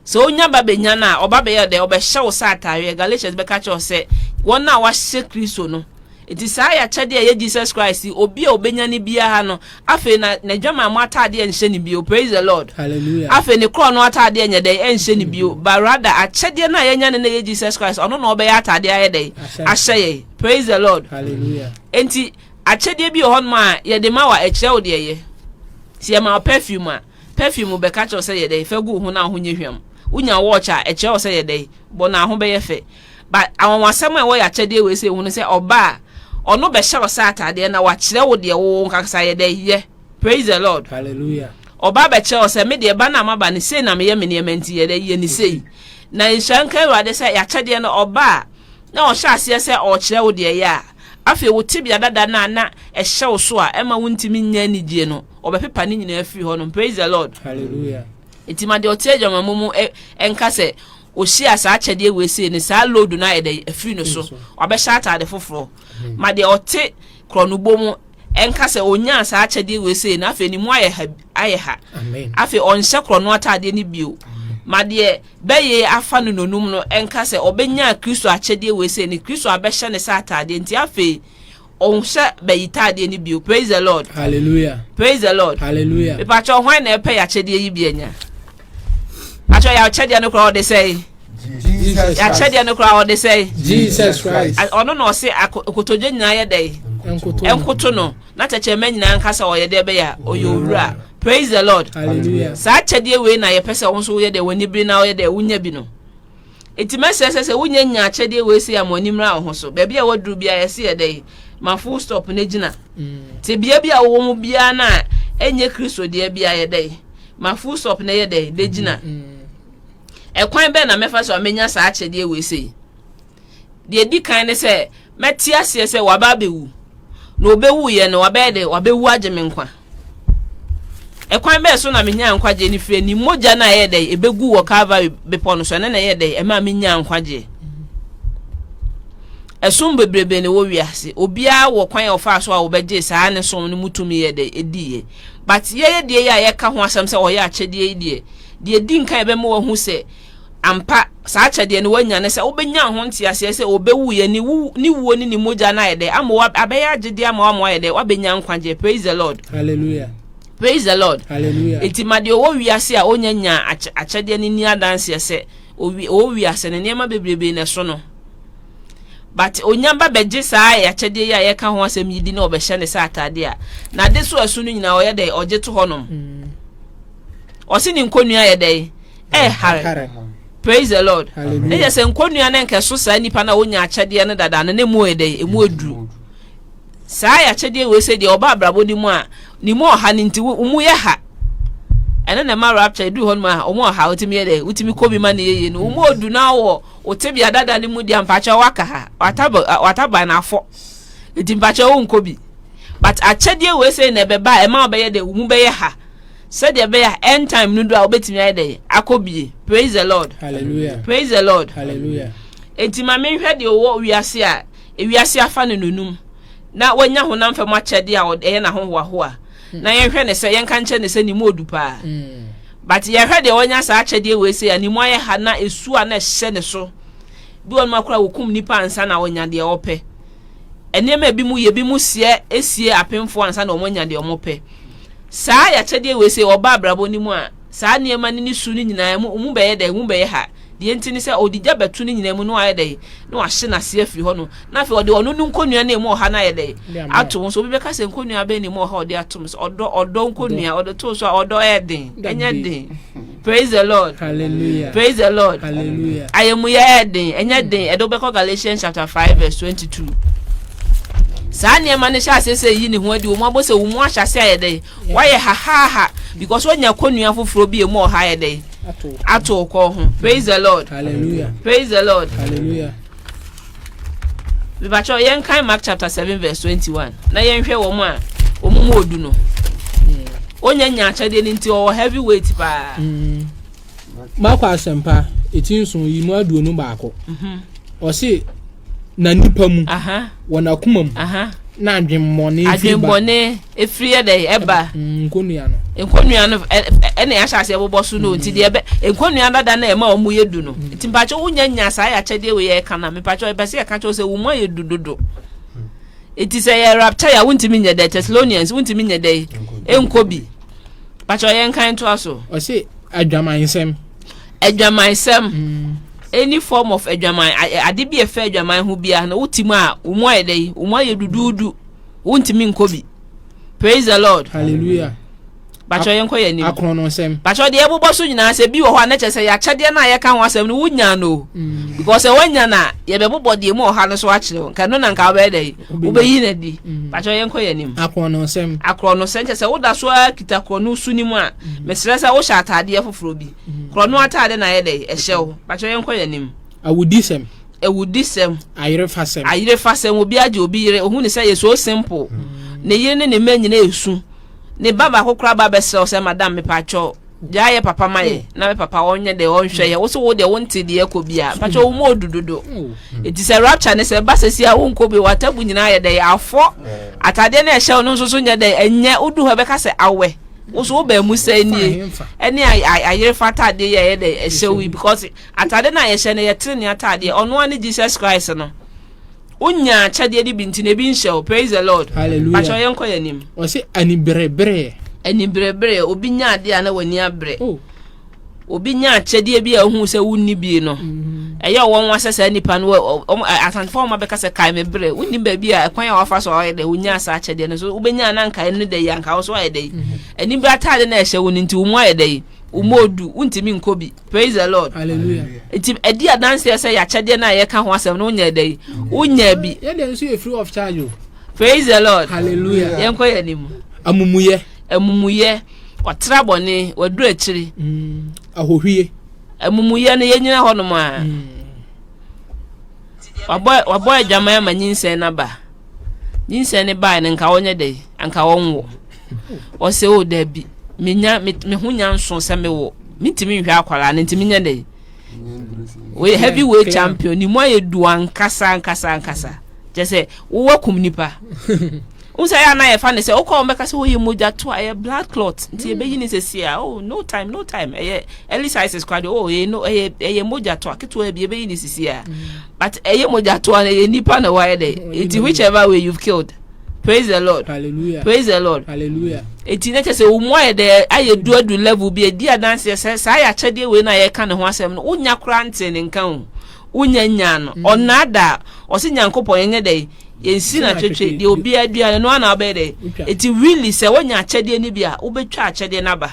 Sɛ onya ba benya no a, ɔba bɛyɛ dɛn? Ɔbɛhyɛ wo sɛ atareɛ. Galatians bɛka kyerɛ wo sɛ, wɔn a wɔahyɛ Kristo no. Enti saa yɛ akyɛdeɛ a ɛyɛ Jesus Christ yi, obi a ɔbɛnya no biara no, afei na n'adwamammɔ atadeɛ nhyɛ no bio. Praise the Lord. Hallelujah. Afei ne korɔno atadeɛ nyɛ dɛn? Ɛnhyɛ no bio. But rather, akyɛdeɛ no a yɛanya no na ɛyɛ Jesus Christ, ɔno na ɔbɛyɛ atadeɛ ayɛ dɛn? Ahyɛ yɛn. Praise the Lord. Hallelujah. Enti akyɛdeɛ bi wɔ hɔnom a yɛde ma wa ɛkyerɛ wo deɛ yɛ. Sɛ yɛma wo perfume a, Perfume bɛka kyerɛ wo sɛ yɛ dɛn? Fa gu wo ho na wo ho nyɛ hwam. Wonya watch a, ɛkyerɛ wo sɛ yɛ dɛn? Bɔ na wo ho bɛyɛ fɛ. But anwanwasɛm a ɛwɔ yɛ akyɛdeɛ wei sei ho ne sɛ ɔba a, ɔno bɛhyɛ wo sɛ ataadeɛ na wakyerɛ wo deɛ wo wo nkakasa yɛ dɛn? Yɛ. Praise the Lord. Hallelujah. Ɔba bɛkyerɛ wo sɛ me deɛ ba no a maba no sei na meyɛ me nneɛma nti yɛ dɛn? Yɛ ne sei. Na nhyira nka Awurade sɛ yɛ akyɛdeɛ no ɔba a, na ɔhyɛ aseɛ sɛ ɔrekyerɛ wo deɛ ɛyɛ a, afei wo tebea dada no a na ɛhyɛ wo so a ɛmma wontumi nnya anigyeɛ no, ɔbɛpepa ne nyinaa afiri hɔ nom. Praise the Lord. Hallelujah. Nti ma deɛ ɔte adwamammɔ mu ɛnka sɛ ɔhyia saa akyɛdeɛ wei sei ne saa load no ayɛ dɛ afiri no so, wabɛhyɛ ataade foforɔ. Ma deɛ ɔte korɔnobɔ mu ɛnka sɛ ɔnyaa saa akyɛdeɛ wei sei no afei ne mu ayɛ ayɛ ha afei ɔnhyɛ korɔno ataadeɛ no bio ma deɛ bɛyɛ afa no nonum no ɛnka sɛ ɔbɛnya kristo akyɛdeɛ wei sɛ ne kristo abɛhyɛ ne sɛ ataadeɛ nti afei ɔnhyɛ bɛyi taadeɛ no bio praise the lord hallelujah praise the lord hallelujah mepakyɛ hwan na ɛpɛ yɛakyɛdeɛ yi bi anya pakyɛ yɛakyɛdeɛ no korɔ ɔde sɛe yɛakyɛdeɛ no korɔ ɔde sɛe ɔno na ɔse akotodwe nyinaa yɛ dɛn nkoto no na tɛkyerɛma nyinaa nka sɛ ɔyɛ dɛ bɛyɛ a ɔyɛ owura praise the lord saa kyɛdeɛ wei na yɛpɛ sɛ wo nso woyɛ dɛ w'ani bere na woyɛ dɛ wonya bi no nti mɛsrɛ sɛ sɛ wonya nya akyɛdeɛ wei sɛ ama ani mmra wo ho so baabi a waduru biara yɛse yɛ dɛ ma full stop no gyina mm. te bea bi a wowɔ mu biara no a ɛnyɛ kristo deɛ biara yɛ dɛ ma full stop no yɛ dɛ de gyina mm, mm. ɛkwan bɛɛ na mɛfa so a mɛnya saa akyɛdeɛ wei sei deɛ di kan ne sɛ Mɛte aseɛ sɛ waba abɛwu, na ɔbɛwuiɛ no, wabɛyɛ dɛ, wabɛwu agye me nkwa. Ɛkwan bɛɛ so na menyaa nkwagyeɛ no firi ne mogya no a ɛyɛ dɛ, ɛbɛgu wɔ Calvary bepɔ no so, ɛno na ɛyɛ dɛ, ɛma menyaa nkwagyeɛ. Ɛsom bebrebe na ɛwɔ wiase, obiara wɔ kwan a ɔfaa so a wɔbɛgyee saa ne som no mu tumi yɛ dɛ, ɛdiiɛ. But yɛyɛ deɛ yi a yɛka ho asɛm sɛ ɔyɛ akyɛdeɛ yi deɛ, deɛ ɛdi nkan ɛbɛma wahu sɛ, Ampa, saa akyɛdeɛ no woanya ne sɛ wobɛnya ho nteaseɛ sɛ ɔbɛwuiɛ, ne wu, ne wuo ne ne mogya no ayɛ dɛ ama wo, abɛyɛ agyedeɛ ama wo ama woayɛ dɛ, woabɛnya nkwagyeɛ. Praise the Lord. Hallelujah. Praise the Lord. Hallelujah. Enti ma deɛ ɔwɔ wiase a ɔnya nya akyɛdeɛ no ni adanseɛ sɛ ɔwɔ wiase no nneɛma bebrebe na ɛso no. But ɔnya ba bɛgye saa akyɛdeɛ yi a yɛka ho asɛm yi di na ɔbɛhyɛ ne sɛ ataadeɛ a n'ade so ɛso no nyinaa ɔyɛ dɛ ɔgye to hɔnom. Mm. Ɔse ne nkonnua yɛ dɛ Eh, hare. Praise the Lord. Ne yɛ sɛ nkonnua ne nkɛso saa nipa na wonya akyɛdeɛ no dada no ne mu yɛ dɛ emu aduru. Saa yɛ akyɛdeɛ wei sɛ deɛ ɔba abrabɔ ne mu a ne mu ɔha ne nti mu yɛ ha. Ɛno na ɛma rapture edu hɔ no ma wɔn ɔha wotumi yɛ dɛ wotumi kɔ bi ma ne yɛyɛ no wɔn mu odu na wɔ wote bia dada ne mu di ampakyɛ waka ha wataba wataba na afɔ nti mpakyɛ wɔn nkɔ bi but akyɛdeɛ wei sɛ na ɛbɛba ɛma ɔbɛyɛ dɛ wɔn mu bɛyɛ ha. Sɛdeɛ ɛbɛyɛ a end time no duru a wobɛtumi ayɛ dɛn akɔ bie praise the lord Hallelujah. praise the lord Hallelujah. enti ma menhwɛ deɛ ɔwɔ wiase a ewiase afa no nonum na wanya honam fam akyɛdeɛ a ɔd- ɛyɛ n'ahohoahoa na yɛnhwɛ ne sɛ yɛnka nkyerɛ ne sɛ ne mu ɔdu paa Mm. but yɛhwɛ deɛ wanya saa akyɛdeɛ wei sei a ne mu ayɛ ha na ɛsuo a na ɛhyɛ ne so bi wɔ nom akora wɔkum nnipa ansa na ɔnya deɛ ɔpɛ nneɛma a ebi mu yɛ ebi mu seɛ esie apemfoɔ ansa na wɔn anya deɛ wɔpɛ Saa yɛ akyɛdeɛ wei sɛ ɔba abrabɔ no mu a, saa nneɛma no ne su no nyinaa mu, mu bɛyɛ dɛn? Mu bɛyɛ ha. Deɛ nti ne sɛ ɔde gya bɛto no nyinaa mu na wayɛ dɛn? Na wahye no ase afiri hɔ no. Na afei ɔde ɔno no nkonnua na ɛmu ɔha no ayɛ dɛn? Ato ho. So obi bɛka sɛ nkonnua bɛn na ɛmu ɔha ɔde atom? Sɛ ɔdɔ, ɔdɔ nkonnua, ɔde too so a, ɔdɔ ɛyɛ den, ɛnyɛ den. Praise the Lord. Hallelujah. Praise the Lord. Hallelujah. Ayɛmuyɛ yɛ den, ɛnyɛ den, ɛde wobɛkɔ Galatians chapter five verse twenty two. Saa nneɛma no hyɛ ase sɛ yi ne ho adi wɔn abɔ sɛ wɔn mu ahyɛ ase ayɛ dɛ wɔayɛ hahaha because wɔnya kɔnua foforɔ bi emu ɔha ayɛ dɛ ato kɔ ho. Praise the Lord. Hallelujah. Praise the Lord. Hallelujah. mebakyɛw yɛnkan mark chapter seven verse twenty one na yɛnhwɛ wɔn a wɔn mu odu no onya nya akyɛdeɛ no nti ɔwɔ heavy weight paa. Mm. mark asɛmpa eti nson yi mu aduonu baako mhm. ɔsi na nipa mu wɔ n'akoma mu na adwemmɔne firi ba. efiri yɛ dɛ ɛba mm, nkonnua no nkonnua no ɛna yɛahyɛ aseɛ bobɔ so no nti deɛ ɛbɛ nkonnua dada na ɛma wɔn yɛ du no mm. nti mpakyɛ wonya nya saa yɛakyɛdeɛ wei yɛ ɛka na mpakyɛ ɛbɛ sɛ yɛka kyɛw sɛ wɔn ayɛ du dodo nti sɛ yɛ rapkyɛ yɛ a wontumi nyɛ dɛ thessalonians wontumi nyɛ dɛ ɛnkɔ bi mpakyɛ yɛn kan to aso. ɔsi adwamansɛm. adwamansɛm. Mm. any form of adwaman ade bi a ɛfɛ adwaman ho biara na wotim a wɔn ayɛ dɛ wɔn ayɛ duduudu. Mm. Wontumi nkɔ bi. Praise the Lord. Hallelujah. Bakyɛ yɛn kɔ yɛn anim. Akɔn no nsɛm. Bakyɛ deɛ ɛbobɔ so nyinaa sɛ bi wɔ hɔ a n'ɛkyɛ sɛ yɛakyɛdeɛ no a yɛka ho asɛm no wonya no. Mm. Because sɛ wonya no a yɛbɛbobɔ deɛ mu ɔha no so akyerɛ wo. Nka no na nka wobɛyɛ dɛ wobɛyi no adi. Mm. Bakyɛ yɛn kɔ yɛn anim. Akɔn no nsɛm. Akɔn no nsɛm kyɛ sɛ woda so ara kita korɔ no su no mu a mm. mesrɛ sɛ wohyɛ ataadeɛ foforɔ bi. Korɔ no ataadeɛ na ayɛ dɛ ɛhyɛ wo. Bakyɛ yɛn kɔ yɛn anim. Awudisɛm. Awudisɛm. Ayerefasɛm. Ayerefasɛm. Obi agye obi yere. Ohun ne sɛ yɛ so simple. Hmm. Ne yere ne ne mma nyinaa esu. Ne ba baako koraa ba bɛsrɛ sɛ madam mepakyɛw gyaa yɛ papa ma yɛ hmm. na me papa ɔnyɛ dɛ ɔnhwɛ yɛ woso wo deɛ wonte deɛ ɛkɔ bi a hmm. pakyɛ wo mu odu dodo eti sɛ rapture ne sɛ ba sɛsi a wonkɔ bi watabu nyinaa yɛ dɛ afɔ atadeɛ no ɛhyɛ wo no nso so nyɛ dɛ ɛnyɛ wodu hɔ ɛbɛka sɛ awɛ woso wo baamu sɛ nie ɛne ayere fata adeɛ yɛ ɛyɛ dɛ ɛhyɛ wo yi because Atade no a yɛhyɛ no yɛ trenee atadeɛ, ɔno ara ne Jesus Christ no. Wo nya akyɛdeɛ no bi nti na ebi nhyɛ wo, praise the Lord. Hallelujah. Pakyɛw yɛn kɔ yɛn anim. Ɔsi aniberebereɛ. Aniberebereɛ, obi nya adeɛ a na w'ani abere. Oh. Obi nya akyɛdeɛ bi a ohun sɛ wonni bi no. Mm-hmm. Ɛyɛ ɔwɔ nwa sɛ saa nipa no wɔn asantefo wɔn abɛka sɛ kae me bere. Wonni baabi a ɛkwan a wafa so ɔyɛ dɛ wonya asa akyɛdeɛ no so wobɛnya na nkae no dɛ yi anka wo so ayɛ dɛ yi. Anibereɛ mm-hmm. ataade na ɛhyɛ wo no nti wo mu ayɛ dɛ yi. Wo mu odu, wontumi nkɔ bi. Praise the Lord. Hallelujah. Nti ɛdi adanseɛ sɛ yɛakyɛdeɛ no a yɛka ho asɛm no wonyɛ dɛ yi wonya bi. Yɛdeɛ nso yɛ free of charge o. Praise the Lord. Hallelujah. Yɛnkɔ yɛ anim. Amumuyɛ. Amumuyɛ. Ɔtra bɔne, waduru akyiri. Mm. Ahohwie. Amumuyɛ no yɛnyina hɔnom a. Mm. Wabɔ adwaman ama nyinsɛn no aba. nyinsɛn no bae no nka wɔnyɛ dɛ anka wɔnwo ɔsɛ o dabi menya me ho nya nso sɛ mewo mentumi nhwɛ akwaraa no ntumi nyɛ dɛ wɔyɛ heavy weight champion ne mu ayɛ du ankasa ankasa ankasa kyɛ sɛ wowɔ kum nipa wo sɛ yɛ ana yɛfa ne sɛ wokɔ wɔn bɛka sɛ wɔyɛ oh, mogya to a ɛyɛ blood clot nti yɛbɛyi ne sɛ si a oh no time no time ɛyɛ early sizes kora deɛ oh ɛyɛ no ɛyɛ ɛyɛ mogya to a ketewa bi yɛbɛyi ne sisi a But ɛyɛ mogyatoa no ɛyɛ nipa na wayɛ dɛ eti whichever way you've killed praise the lord hallelujah praise the lord hallelujah eti ne kyɛ sɛ wɔn mu ayɛ dɛ ayɛ du adu level bi edi adanseɛ sɛ saa ayɛ akyɛdeɛ wei na yɛka ne ho asɛm no wonya koraa nte ne nka o wonya nya no mm. ɔnaada ɔsi nyankopɔn yɛnyɛ dɛ yɛnsi na twetwe deɛ obiara dua no noa na ɔbɛyɛ dɛ eti really sɛ wonya akyɛdeɛ no bi a wobɛtwa akyɛdeɛ no aba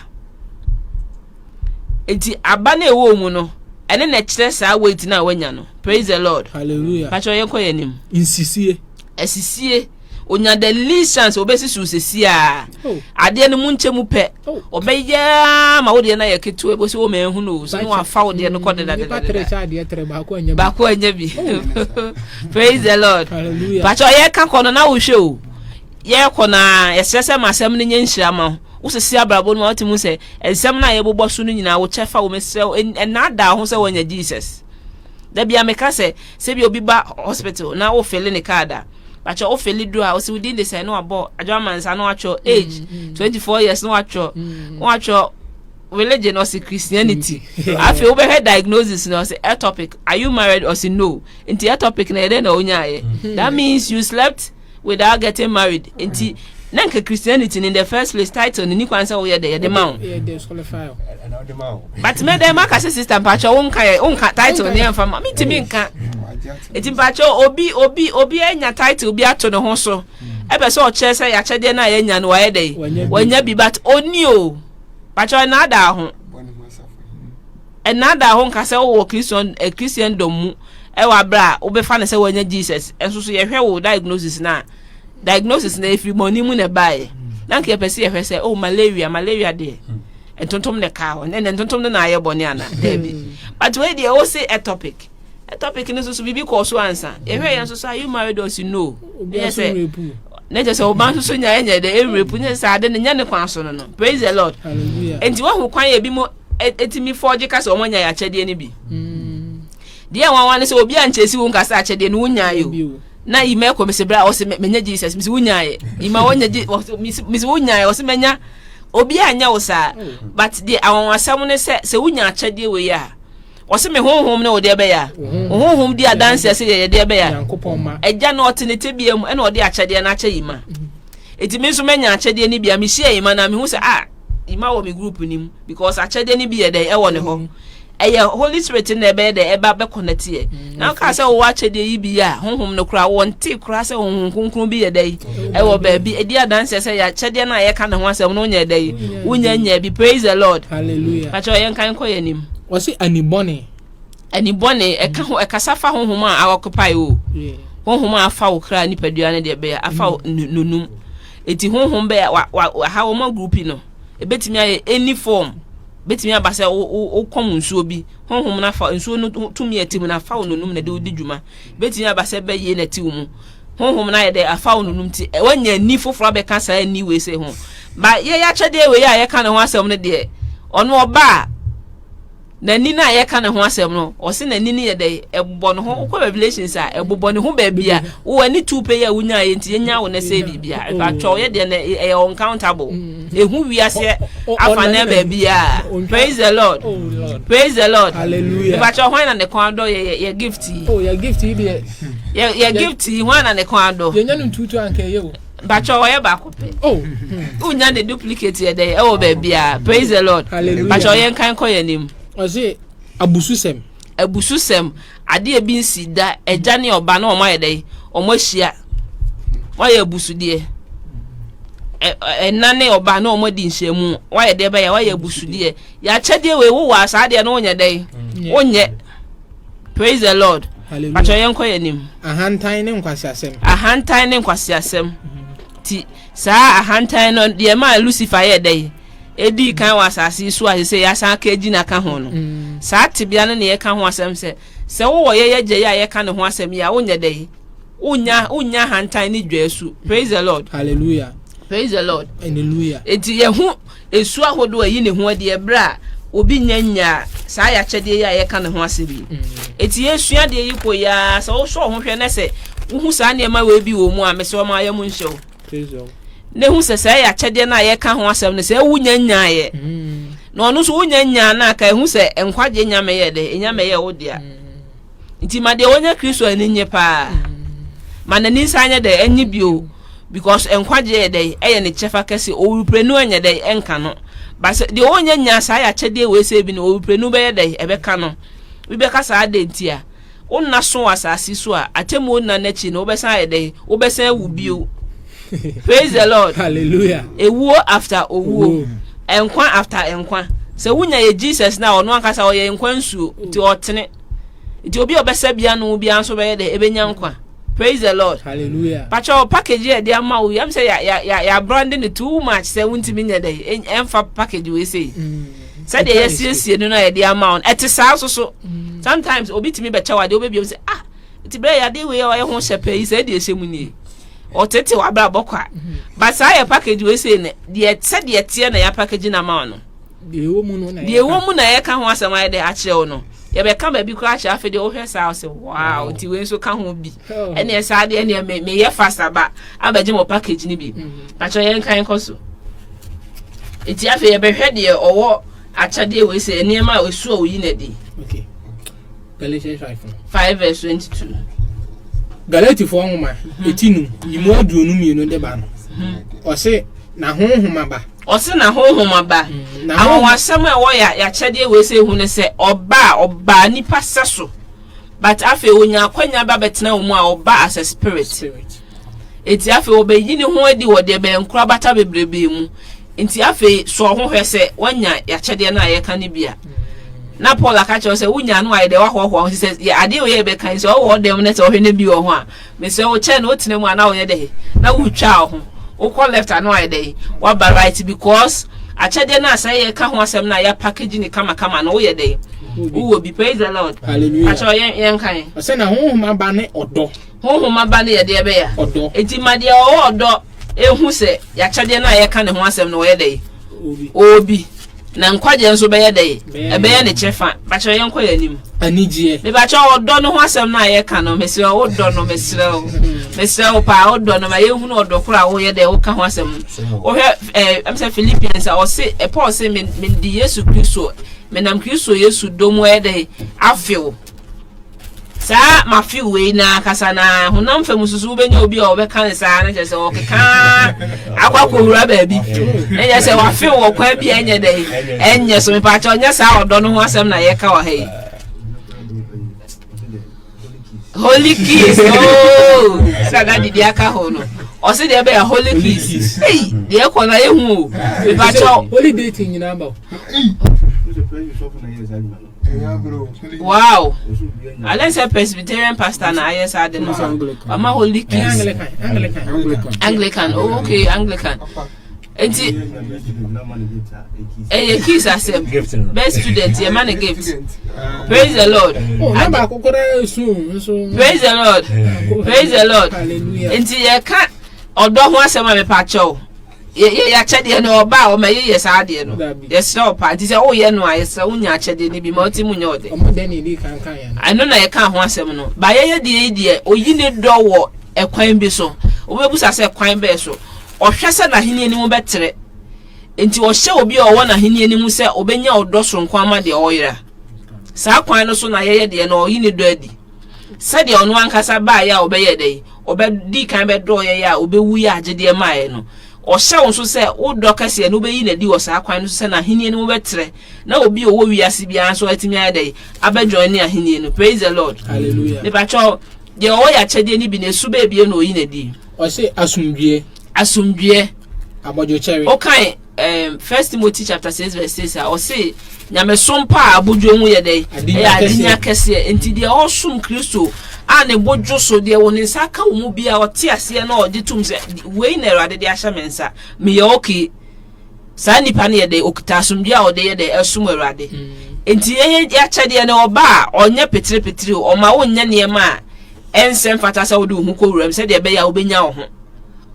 Eti aba no ɛwɔ mu no, ɛne na ɛkyerɛ saa weight no a wanya no. Praise the Lord. Hallelujah. Patrɔ yɛn kɔ yɛn anim. Nsisie. Asisie. Onya the least chance obesi so sisi a. Oh. Adeɛ no mu nkyɛ mu pɛ. Oh. Ɔbɛyɛ ma wodeɛ no ayɛ ketewa ebo sɛ wɔn ɛho no so wɔn afa wodeɛ no kɔ deda deda deda. Baako anya bi. Oh. Praise the Lord. Hallelujah. Patrɔ yɛ ka kɔ no na wohwɛ o. yɛkɔ no ara, yɛsrɛ sɛ ma asɛm no nyɛ nhyira ma wo. Wosisi abrabɔ no ma wotumi hu sɛ nsɛm no a yɛbobɔ so no nyinaa wo kyɛfa wom. Mesrɛ wo, nnaadaa wo ho sɛ woanya Jesus. Da biara meka sɛ, sɛ bi obi ba hospital na wofele ne card a, bakyɛ wofele duru a, ɔsi wo din de sɛn na wabɔ adwaman nsa na watwerɛ age, 24 years na watwerɛ, na watwerɛ religion ɔsi Christianity. Afei wobɛhwɛ diagnosis na ɔsi ectopic, are you married ɔsi no, nti ectopic na yɛdɛ na ɔnyaayɛ. That means you slept without getting married nti na nka christianity in the first place title ni kwan sɛ woyɛ dɛ yɛde ma wo but mɛ dɛ maka sɛ sister mpakyɛ wo nka yɛ wo nka title ne ɛmfa ma mentumi nka nti mpakyɛ obi obi obi anya title bi ato ne ho so ɛbɛ sɛ ɔkyerɛ sɛ yɛakyɛdeɛ no a yɛanya no wayɛ dɛ wanya bi but ɔni o mpakyɛ ɔnaadaa ho Nnaadaa ho nka sɛ wowɔ Kristian Kristiandom mu wɔ aber a wobɛfa no sɛ woanya Jesus. Nso so yɛhwɛ wo diagnosis no a, diagnosis no ɛfiri bɔne mu na ɛbaeɛ. Na anka yɛpɛ sɛ yɛhwɛ sɛ, oh, malaria, malaria deɛ, ntontom na ɛkaa hɔ. Ɛnɛ ntontom no na ayɛ bɔne anaa? Daabi. But wei deɛ, wose atopic. Topic no nso so biribi kɔɔ so ansa yɛhwɛ yɛn nso so are you married or you know ɛnyɛ sɛ na kyerɛ sɛ ɔba nso so nya ɛnyɛ dɛ ɛwurepu ne sɛ ade no nyɛ ne kwan so no no praise the lord nti wahu kwan yɛ bi mu ɛtumi fɔgye ka sɛ wɔn anya yɛ akyɛdeɛ no bi mm. deɛ nwanwa no sɛ obi ankyɛ si wo nka sɛ akyɛdeɛ no wonya yɛ o na ima ɛkɔ mesi bere a ɔsi menya jesus mesi wonya yɛ ima wɔnya je mesi wonya yɛ ɔsi menya obi anya wo saa oh. but deɛ awɔn asɛm no sɛ sɛ wonya akyɛdeɛ wɔ yi a. Ɔse me honhom ne wo deɛ bɛyɛ a. Wo honhom di adanseɛ sɛ yɛyɛ deɛ bɛyɛ a. Agya no ɔte ne tebea mu ɛna ɔde akyɛdeɛ no akyɛ Yima. Eti me nso mɛnya akyɛdeɛ no bi a mehyia Yima na mehu sɛ ah Yima wɔ me group no mu because akyɛdeɛ no bi yɛ dɛn ɛwɔ ne hɔ. Ɛyɛ Holy Spirit no na ɛbɛyɛ dɛn ɛba bɛkɔnɛteɛ. Na ɔkaa sɛ wowɔ akyɛdeɛ yi bi a honhom no koraa wɔnte koraa sɛ honhom kronkron bi yɛ dɛ yi ɛwɔ baabi ɛdi adanseɛ sɛ yɛakyɛdeɛ no a yɛka ne ho asɛm no wonyɛ dɛ yi wonya nya bi praise the lord hallelujah pakyɛ ɔyɛ nkan kɔ yɛ anim wɔse anibɔne anibɔne ɛka ho ɛkasa fa honhom a awɔkopae o honhom a afa wo kra nipadua no deɛ bɛyɛ afa mm. nonum ɛti honhom bɛyɛ waha wɔma grupi no ɛbɛtumi ayɛ any form bɛtumi aba sɛ wokɔm nsuo bi honhom no afa nsuo no tumi a ɛte mu no afa wo nonum na ɛde wodi dwuma. Ɛbɛtumi aba sɛ ɛbɛyie na ɛte wo mu. Honhom no ayɛ dɛ afa wo nonum nti, woanya ani foforɔ abɛka saa ani wei sei ho. Ba yɛyɛ akyɛdeɛ wei a yɛka ne ho asɛm no deɛ, ɔno ɔba a, n'ani no a yɛka ne ho asɛm no, ɔse n'ani no yɛ dɛ, ɛbobɔ ne ho. Wokɔ Revelations a, ɛbobɔ ne ho baabi a, wowɔ ani tuo pɛ yi a wonyaeɛ nti, yɛnya wo na ɛsɛe biribi a, ɛbɛtwa wo yɛ deɛ na ɛyɛ uncountable. ehu wiase afa na baabiara praise the lord praise the lord ìbàtsọ hwan na ne kɔn adɔ yɛ yɛ yɛ gift yi oh, yɛ gift yi deɛ yɛ yɛ gift yi hwan na ne kɔn adɔ yɛ nya ne ntutu anka ɛyɛ o bàtsọ ɔyɛ baako pɛ oh hmm. o nya ne duplicate yɛ dɛ ɛwɔ baabiara praise the lord bàtsọ yɛ nkan kɔ yɛ anim ɔsi abususɛm. abususɛm, adeɛ a ɛbi nsii da, agya ne ɔba na wɔn ayɛ dɛ, wɔn ahyia, wɔayɛ abusudeɛ. Ɛna ne ɔba na wɔn adi nhyiamu, wɔayɛ deɛ bɛyɛ, wɔayɛ abusudeɛ. Yɛakyɛdeɛ wei wowɔ a saa deɛ no wonyɛ dɛ, wonyɛ. Praise the Lord. Atwa yɛn kɔ yɛn anim. Ahantan ne nkwaseasɛm. Ahantan ne nkwaseasɛm. Ti saa ahantan no deɛ maa Lucifer yɛ dɛ. edii kan wɔ asase yi so a sɛ yɛasan aka agyina ka ho no. Mm. Saa tebea no na yɛka ho asɛm sɛ sɛ wowɔ yɛyɛ agya yi a yɛka ne ho asɛm yi a wonyɛ dɛ yi wonya wonya hantan ne dwaasu praise the lord hallelujah praise the lord hallelujah enti yɛho esu ahodoɔ ɛyi ne ho adi ɛberɛ a obi nya nyaa saa yɛakyɛdeɛ yi a yɛka ne ho asɛm yi mm. enti yɛsua deɛ yi kɔ yi a sɛ wosɔ ho hwɛ na sɛ wohu saa nneɛma wei bi wɔ mu a mesɛ ɔma yɛ mu nhyɛ wo na ehu sɛ saa yɛ akyɛdeɛ no a yɛka ho asɛm no sɛ ewu nya nyaeɛ na ɔno nso wonya nyaa no a ka ehu sɛ nkwagye nya mɛyɛ dɛ enya mɛyɛ wo dea nti ma deɛ wɔnya kristo ani nye paa ma n'ani nsa nyɛ dɛ enye bio because nkwagye yɛ dɛ ɛyɛ ne kyɛfa kɛse owurprenu ɛnyɛ dɛ ɛnka no basɛ deɛ wɔnya nyaa saa yɛ akyɛdeɛ wei sɛ ebi no owurprenu bɛyɛ dɛ ɛbɛka no bi bɛka saa dɛ nti a Wo nna so wɔ asase so a, atemmuo nna no akyi no, wobɛsan ayɛ dɛn? Wobɛsan awu bio. Praise the Lord. Hallelujah. Ewuo after owuo. Nkwa after nkwa. Sɛ wonya yɛ Jesus no a, ɔno ankasa ɔyɛ nkwa nsuo. Nti ɔtene. Nti obi a ɔbɛsɛ bia no bia nso bɛyɛ dɛ ɛbɛnya nkwa. Praise the Lord. Hallelujah. Pakyɛ package yɛ de ama wo. Yam sɛ ya ya ya ya brande no too much sɛ wontumi nyɛ dɛ ɛmfa package wei sei. Mm. sɛdeɛ yɛasiesie no no a yɛde ama wo no ɛte saa nso so mm. sometimes obi tumi bɛkyɛ wo adeɛ wobɛbiam sɛ ah nti berɛ yɛ adeɛ wei a ɔyɛ ho hyɛ pɛ yi sɛ ɛde ɛhyɛ mu nie ɔtete w'abrabɔ kwa mm-hmm. but saa yɛ package wei sei no deɛ sɛdeɛ teɛ na yɛapackage no ama wo no deɛ ɛwɔ mu na yɛka ho asɛm ayɛ dɛ akyerɛ wo no yɛbɛka baabi koraa akyerɛ afei deɛ wohwɛ saa wo sɛ wow nti wei nso ka ho bi ɛneɛ saa deɛ ɛneɛ me meyɛ fast aba abɛgye mo package no bi pakyɛ yɛn kan kɔ so nti afei yɛbɛhwɛ deɛ ɔwɔ akyɛdeɛ wei sɛ nneɛma a ɛsu a oyi na di Galatians five five verse twenty two Galatifoɔ nwoma mhm. eti num yimu aduonu mmienu de ba no mhm. ɔse na honhom aba ɔse na honhom aba mhm. awɔwasɛm a ɛwɔ yɛ akyɛdeɛ wei sɛ ehu no sɛ ɔbaa ɔbaa nipa sɛ so But afei onya akwanya ba bɛtena wɔn mu a ɔba as a spirit. Nti afei ɔbɛyi ne ho adi wɔ deɛ bɛyɛ nkorabata bebrebee mu. Nti afei sɔɔ ho hwɛ sɛ wanya yɛakyɛdeɛ no a yɛka no bi a. Na Paul aka kyerɛ wo sɛ wonya no a yɛde wahoahoa ho. Nti sɛ yɛ adeɛ wei a yɛbɛka yi sɛ ɔwɔ hɔ dɛm na sɛ ɔhwɛ na bi wɔ ho a, Mesrɛ wo kyɛn wotena mu a na woyɛ dɛn na wotwaa wo ho wokɔ left a na wayɛ dɛn waba right because akyɛdeɛ no a sɛ yɛka ho asɛm no a yɛ package ne kama kama no woyɛ dɛn wowɔ bi praise the lord hallelujah akyɛ yɛn yɛn kan ɔsɛ na honhom aba ne ɔdɔ honhom aba ne yɛdeɛ bɛyɛ ɔdɔ eti ma deɛ ɔwɔ ɔdɔ ehu sɛ yɛakyɛdeɛ no a yɛka ne ho asɛm no wɔyɛ dɛn obi Na nkwagyeɛ nso bɛyɛ dɛ? Ɛbɛyɛ ne kyɛfa. Bakyɛ yɛnkɔ yɛn anim. Anigyeɛ. Mebakyɛ ɔdɔ no ho asɛm no a yɛka no, mesrɛ wo dɔ no, mesrɛ wo. Mesrɛ wo paa, wo dɔ no, ma yɛnhunu ɔdɔ koro a woyɛ dɛ woka ho asɛm. Wohwɛ ɛɛ, ɛm sɛ Philippians a, ɔse, Paul se, mede Yesu Kristo, menam Kristo Yesu dɔ mu ɛyɛ dɛ, afe wo. saa mafe wei na kasa na honam fam nso so wobɛnya obi a ɔbɛka ne saa no kyɛ sɛ ɔkeka akɔ akɔwura baabi na nyɛ sɛ wafe wɔ kwan bi a ɛnyɛ dɛ ɛnyɛ so mepaakyɛ ɔnyɛ saa ɔdɔ no ho asɛm na yɛka wɔ ha yi holy kiss ooo sɛ na didi aka ho no ɔsi deɛ bɛyɛ holy kiss eyi deɛ kɔ na ehu o mepaakyɛ holy dating nyinaa ba o. Wow! Alɛ sɛ Presbyterian pastor na ayɛ saa de no. Ɔma Holy Kiss. Anglican. Oh, okay, Anglican. Nti ɛyɛ kiss asɛm. Best student yɛ ma ne gift. Praise the Lord. Oh, Praise the Lord. Praise the Lord. Nti yɛ ka ɔdɔ ho asɛm a mepɛ akyɛw. Yɛ yɛ akyɛdeɛ no ɔbaa ɔma yɛ yɛ saa adeɛ no yɛsrɛ wo paa nti sɛ wo yɛ no a yɛsrɛ wo nya akyɛdeɛ no bi ma ɔte mu nyɛ ɔdɛ ɛno na yɛkaa ho asɛm no ba yɛ yɛ deɛ yi deɛ oyi ne dɔ wɔ ɛkwan bi so wobɛbusa sɛ kwan bɛɛ so ɔhwɛ sɛ n'ahenni anim bɛtrɛ nti ɔhyɛ obi a ɔwɔ n'ahenni anim sɛ ɔbɛnya ɔdɔ soronko ama deɛ ɔyera saa kwan no so na yɛyɛ deɛ no ɔyi ne dɔ adi Sɛdeɛ ɔno ankasa baeɛ a ɔbɛyɛɛ dɛn? Ɔbɛdii kan bɛdɔɔɛ yɛ a ɔbɛwuiɛ agyedeɛ maeɛ no. Ɔhyɛ wo nso sɛ wo dɔ kɛseɛ no wobɛyi no adi wɔ saa kwan no so sɛ n'ahennie no mu bɛtrɛ na obi a ɔwɔ wiase biara nso atumi ayɛ dɛn? Abɛjoine ahennie no. Praise the Lord. Hallelujah. Mepakyɛw, deɛ ɔwɔ yɛ akyɛdeɛ no bi no, ɛsu bɛɛbie na ɔyi no adi. Ɔse asomdwoeɛ. Asomdwoeɛ. Abɔdwokyɛre. Wokan um First Timothy chapter six verse six a ɔse nyamesom pa a abodwo ho yɛ dɛn ɛyɛ adenya kɛseɛ nti deɛ ɔsom kristo a ne bo dwo so deɛ wɔ ne nsa ka wɔ mu bia ɔte aseɛ na ɔgye tom sɛ wei na awurade de ahyɛ me nsa meyɛ okay saa nipa no yɛ dɛn ɔkita asomdwe a ɔde yɛ dɛn ɛsom awurade mm. nti yɛakyɛdeɛ no ɔba a ɔnyɛ petirepetire ɔma wonyɛ nneɛma a ɛnsɛ mfata sɛ wode wo ho kɔ wuram sɛdeɛ ɛbɛyɛ a wobɛnya wo ho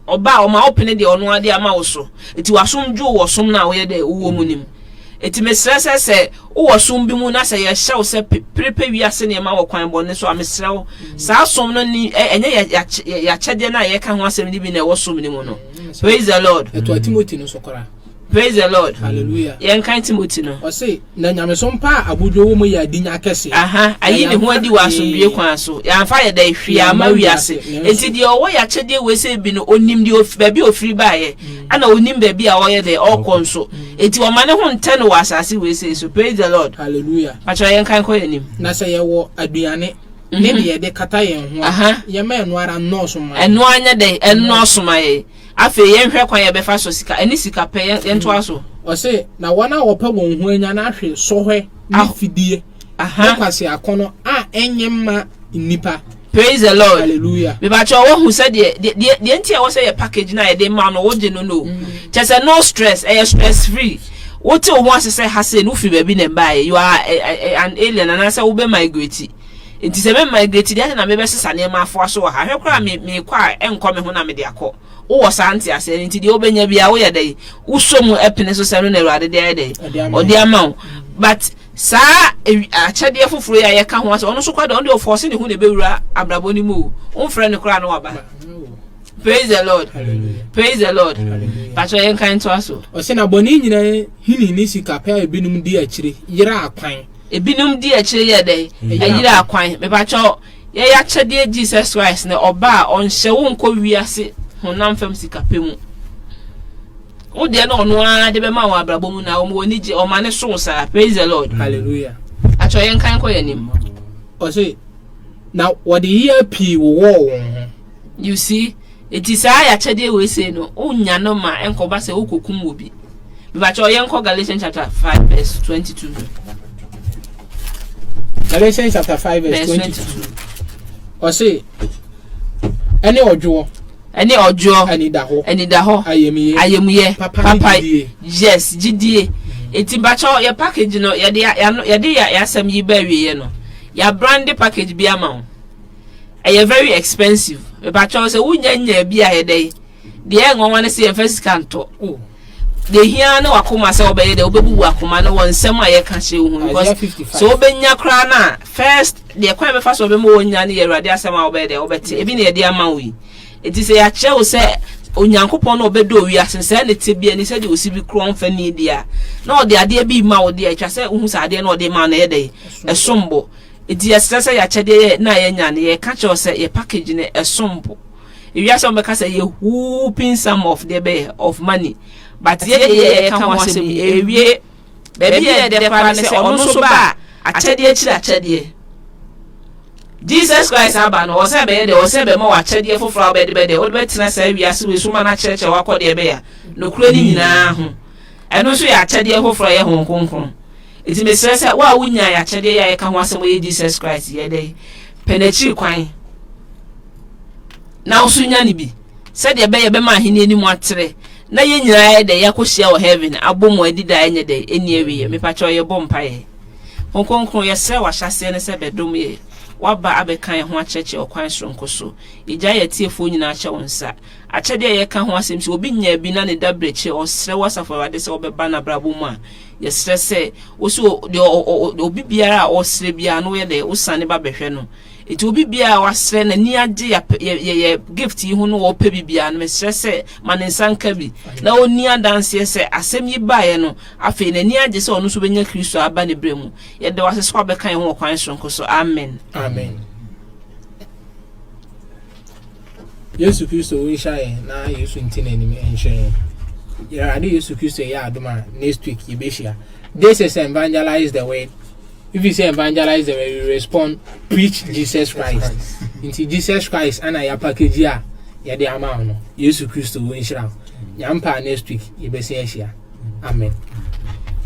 Ɔba a, ɔma wopene deɛ Ɔno ara de ama wo so. Enti w'asom dwo wɔ som no a woyɛ dɛ wowɔ mu no mu. Enti mesrɛ sɛ, sɛ wowɔ som bi mu na sɛ yɛhyɛ wo sɛ pere pɛ wiase nneɛma wɔ kwan bɔne so a, mesrɛ wo, saa som no nni, ɛ, ɛnyɛ yɛ, yɛ, yɛ akyɛdeɛ no a yɛreka ho asɛm no bi na ɛwɔ som no mu no. Praise the Lord. Ɛtoa Timothy no so koraa. Praise the Lord. Hallelujah. Yɛn kan Timothy no. Ɔse na nyamesom pa a abodwo wɔ mu yɛ adinya akɛse. Aha, ayi ne ho adi wɔ asomdwie kwan so. Yɛamfa yɛ dɛ hwee ama wiase. Enti deɛ ɔwɔ yɛ akyɛdeɛ wei sɛ bi no onim deɛ ofi baabi a ofiri baayɛ. Ɛna onim baabi a ɔyɛ dɛ ɔkɔ nso. Enti ɔma ne ho ntɛ no wɔ asase wei sɛ so. Praise the Lord. Hallelujah. Pakyɛ yɛn kan kɔ yɛn anim. Na sɛ yɛwɔ aduane ne deɛ yɛde kata yɛn ho a, yɛma ɛno ara nnɔɔso ma yɛn. Ɛno ara nyɛ dɛ ɛnnɔɔso ma yɛn. Afei yɛnhwɛ kwan a yɛbɛfa so sika ɛne sika pɛ yɛn yɛntoa so. Ɔse, na wɔn a wɔpɛ wɔn ho anya no ahwe sɔhwɛ ne Aho fidie aha. ne kwaseakɔ no a ɛnye mma nnipa. Praise the Lord. Hallelujah. Mepakyɛw woahu sɛdeɛ deɛ deɛ deɛ nti a ɛwɔ sɛ yɛ package no a yɛde ma no wogye no no o. Kyerɛ sɛ no stress, ɛyɛ stress free. Wote wo ho ase sɛ ha sei no wofiri baabi na ɛbaeɛ, you are a a a an alien anaasɛ wobɛ migrate. Enti sɛ me migrate deɛ, adɛn na mebɛsesa nneɛma afoa so wɔ ha? Hwɛ koraa me, mekɔ a, ɛnkɔ me ho na mede akɔ. Wowɔ saa nteaseɛ no, enti deɛ wobɛnya biara, woyɛ dɛn? Wosɔ mu pene so sɛ ɛno na Awurade de ayɛ dɛn? Ɔde ama wo. But saa akyɛdeɛ foforɔ yi a yɛka ho asɛ, ɔno nso kɔ da, ɔno deɛ ɔfɔɔse ne ho na ɛbɛwura abrabɔ no mu o. Womfrɛ no koraa na waba. Praise the Lord. Hallelujah. Praise the Lord. Hallelujah. Patrɔ yɛn kan to aso. Ɔsɛ na bɔne nyinaa hini ne sikapɛ a ebinom di akyire yera akwan. Ebinom dii akyire yɛɛ dɛn? Ɛyeraa kwan. Mepakyɛw, yɛn akyɛdeɛ Jesus Christ na ɔba a, ɔnhyɛ wo nkɔ wiase honam fam sikapɛ mu. Wo deɛ na ɔno ara de bɛma wo abrabɔ mu na ɔma w'ani gye, ɔma ne so wo saa. Praise the Lord. Hallelujah. Pakyɛw yɛnkan nkɔ yɛn anim. Ɔse, Na wɔde yea pii wowɔɔ wɔn ho. You see? Enti saa yɛ akyɛdeɛ wei sei no, wo nya no ma ɛnkɔ ba sɛ wo kɔ kum obi. Mebakyɛw yɛn kɔ Galatians chapter five verse twenty two. Galatians chapter five verse twenty two. Ɔse, ɛne ɔdwoɔ. Ɛne ɔdwoɔ. Anidahɔ. Anidahɔ. Ayemuyɛ. Ayemuyɛ. Papa, Papa gyidie. Yes, gyidie. Eti bakyɛw yɛ package no yɛde yɛde yɛ asɛm yi bɛɛ wieɛ no, yɛabrande package bi ama wo. Ɛyɛ very expensive. Mepakyɛw sɛ wonnya nyaa bi a ɛyɛ dɛn? Deɛ ɛyɛ nwanwa ne sɛ yɛmfa sika ntɔ. Oh. Deɛ ehia ara ne w'akoma sɛ wobɛyɛ dɛ wobɛbu w'akoma no wɔ nsɛm a yɛka kyerɛ wo ho no. Isaiah Because 55. sɛ wobɛnya koraa no a, first deɛ kwan a ɛbɛfa so a ɔbɛma wonya no yɛ Awurade asɛm a wobɛyɛ dɛn wobɛte. Ebi na yɛde ama wo yi. Enti sɛ yɛakyerɛ wo sɛ Onyankopɔn na ɔbɛdɔ wiase no, sɛɛ ne tebea ni, sɛdeɛ osi bi korɔn mfa nni deɛ a, na ɔde adeɛ bi rema wo deɛ a, ɛtwa sɛ wohu sɛ adeɛ no a ɔde rema wo no ɛyɛ dɛn? Ɛsom bo. Enti yɛsrɛ sɛ y'akyɛdeɛ yɛ na yɛnya no yɛka kyerɛ wo sɛ yɛ package no ɛsom bo ewiase a wɔbɛka sɛ yɛ whooping sum of deɛ bɛyɛ of money but yɛ deɛ yɛka ho asɛm yi ɛwie baabi yɛ dɛ koraa ne sɛ ɔno nso ba a akyɛdeɛ akyiri akyɛdeɛ Jesus Christ aba no ɔsɛ bɛyɛ dɛ ɔsɛ bɛma wɔ akyɛdeɛ foforɔ a wobɛde bɛdɛ wode bɛtena saa wiase wei so ma no akyerɛkyerɛ wakɔ deɛ bɛyɛ a nokorɛ no nyinaa ho Ɛno nso yɛ akyɛdeɛ foforɔ a ɛyɛ Honhom Kronkron. Enti mesrɛ sɛ, wo a wonyaa yɛn akyɛdeɛ yi a yɛka ho asɛm ɔyɛ Jesus Christ yi ɛdɛ yi, pɛ n'akyiri kwan na wo nso nya no bi, sɛdeɛ ɛbɛyɛ bɛma ahenni anim atrɛ na yɛn nyinaa yɛ dɛ yɛakɔhyia wɔ heaven abɔ mu adi daa ɛnyɛ dɛ ɛnni awieɛ. Mepakyɛw yɛbɔ mpaeɛ. Honhom Kronkron, yɛsrɛ wo ahyɛaseɛ no sɛ bɛdom yɛn. Woaba abɛka yɛn ho akyerɛkyerɛ ɔkwan soronko so. Yɛgyae yɛn atiefoɔ nyinaa hyɛ wo nsa. Akyɛde a yɛka ho asɛm sɛ obi nyaa bi na ne dabere kyɛ, ɔsrɛ wo Asafo Awurade sɛ wobɛba n'abrabɔ mu a, yɛsrɛ sɛ wo so deɛ obi biara a ɔsrɛ biara no woyɛ dɛ wosane ba bɛhwɛ no. Enti obi biara a wasrɛ n'ani agye yɛ yɛ gift yi ho no ɔpɛ bi biara no mesrɛ sɛ ma ne nsa nka bi na ɔnni adanseɛ sɛ asɛm yi baeɛ no afei n'ani agye sɛ ɔno nso bɛnya Kristo aba ne berɛ mu. Yɛda wo ase sɛ wabɛka yɛn ho wɔ kwan soronko so. Amen. Amen. Yesu Kristo nhyira yɛn na Yesu nti na anim nhyira yɛn. Awurade Yesu Kristo yɛ adom a next week yɛbɛhyia. This is evangelize the word. If you say evangelize the word, you respond preach Jesus Christ. Nti Jesus Christ ana yɛ package a yɛde ama wo no. Yesu Kristo wo nhyira. Nyampa next week yɛbɛsi ahyia. Amen.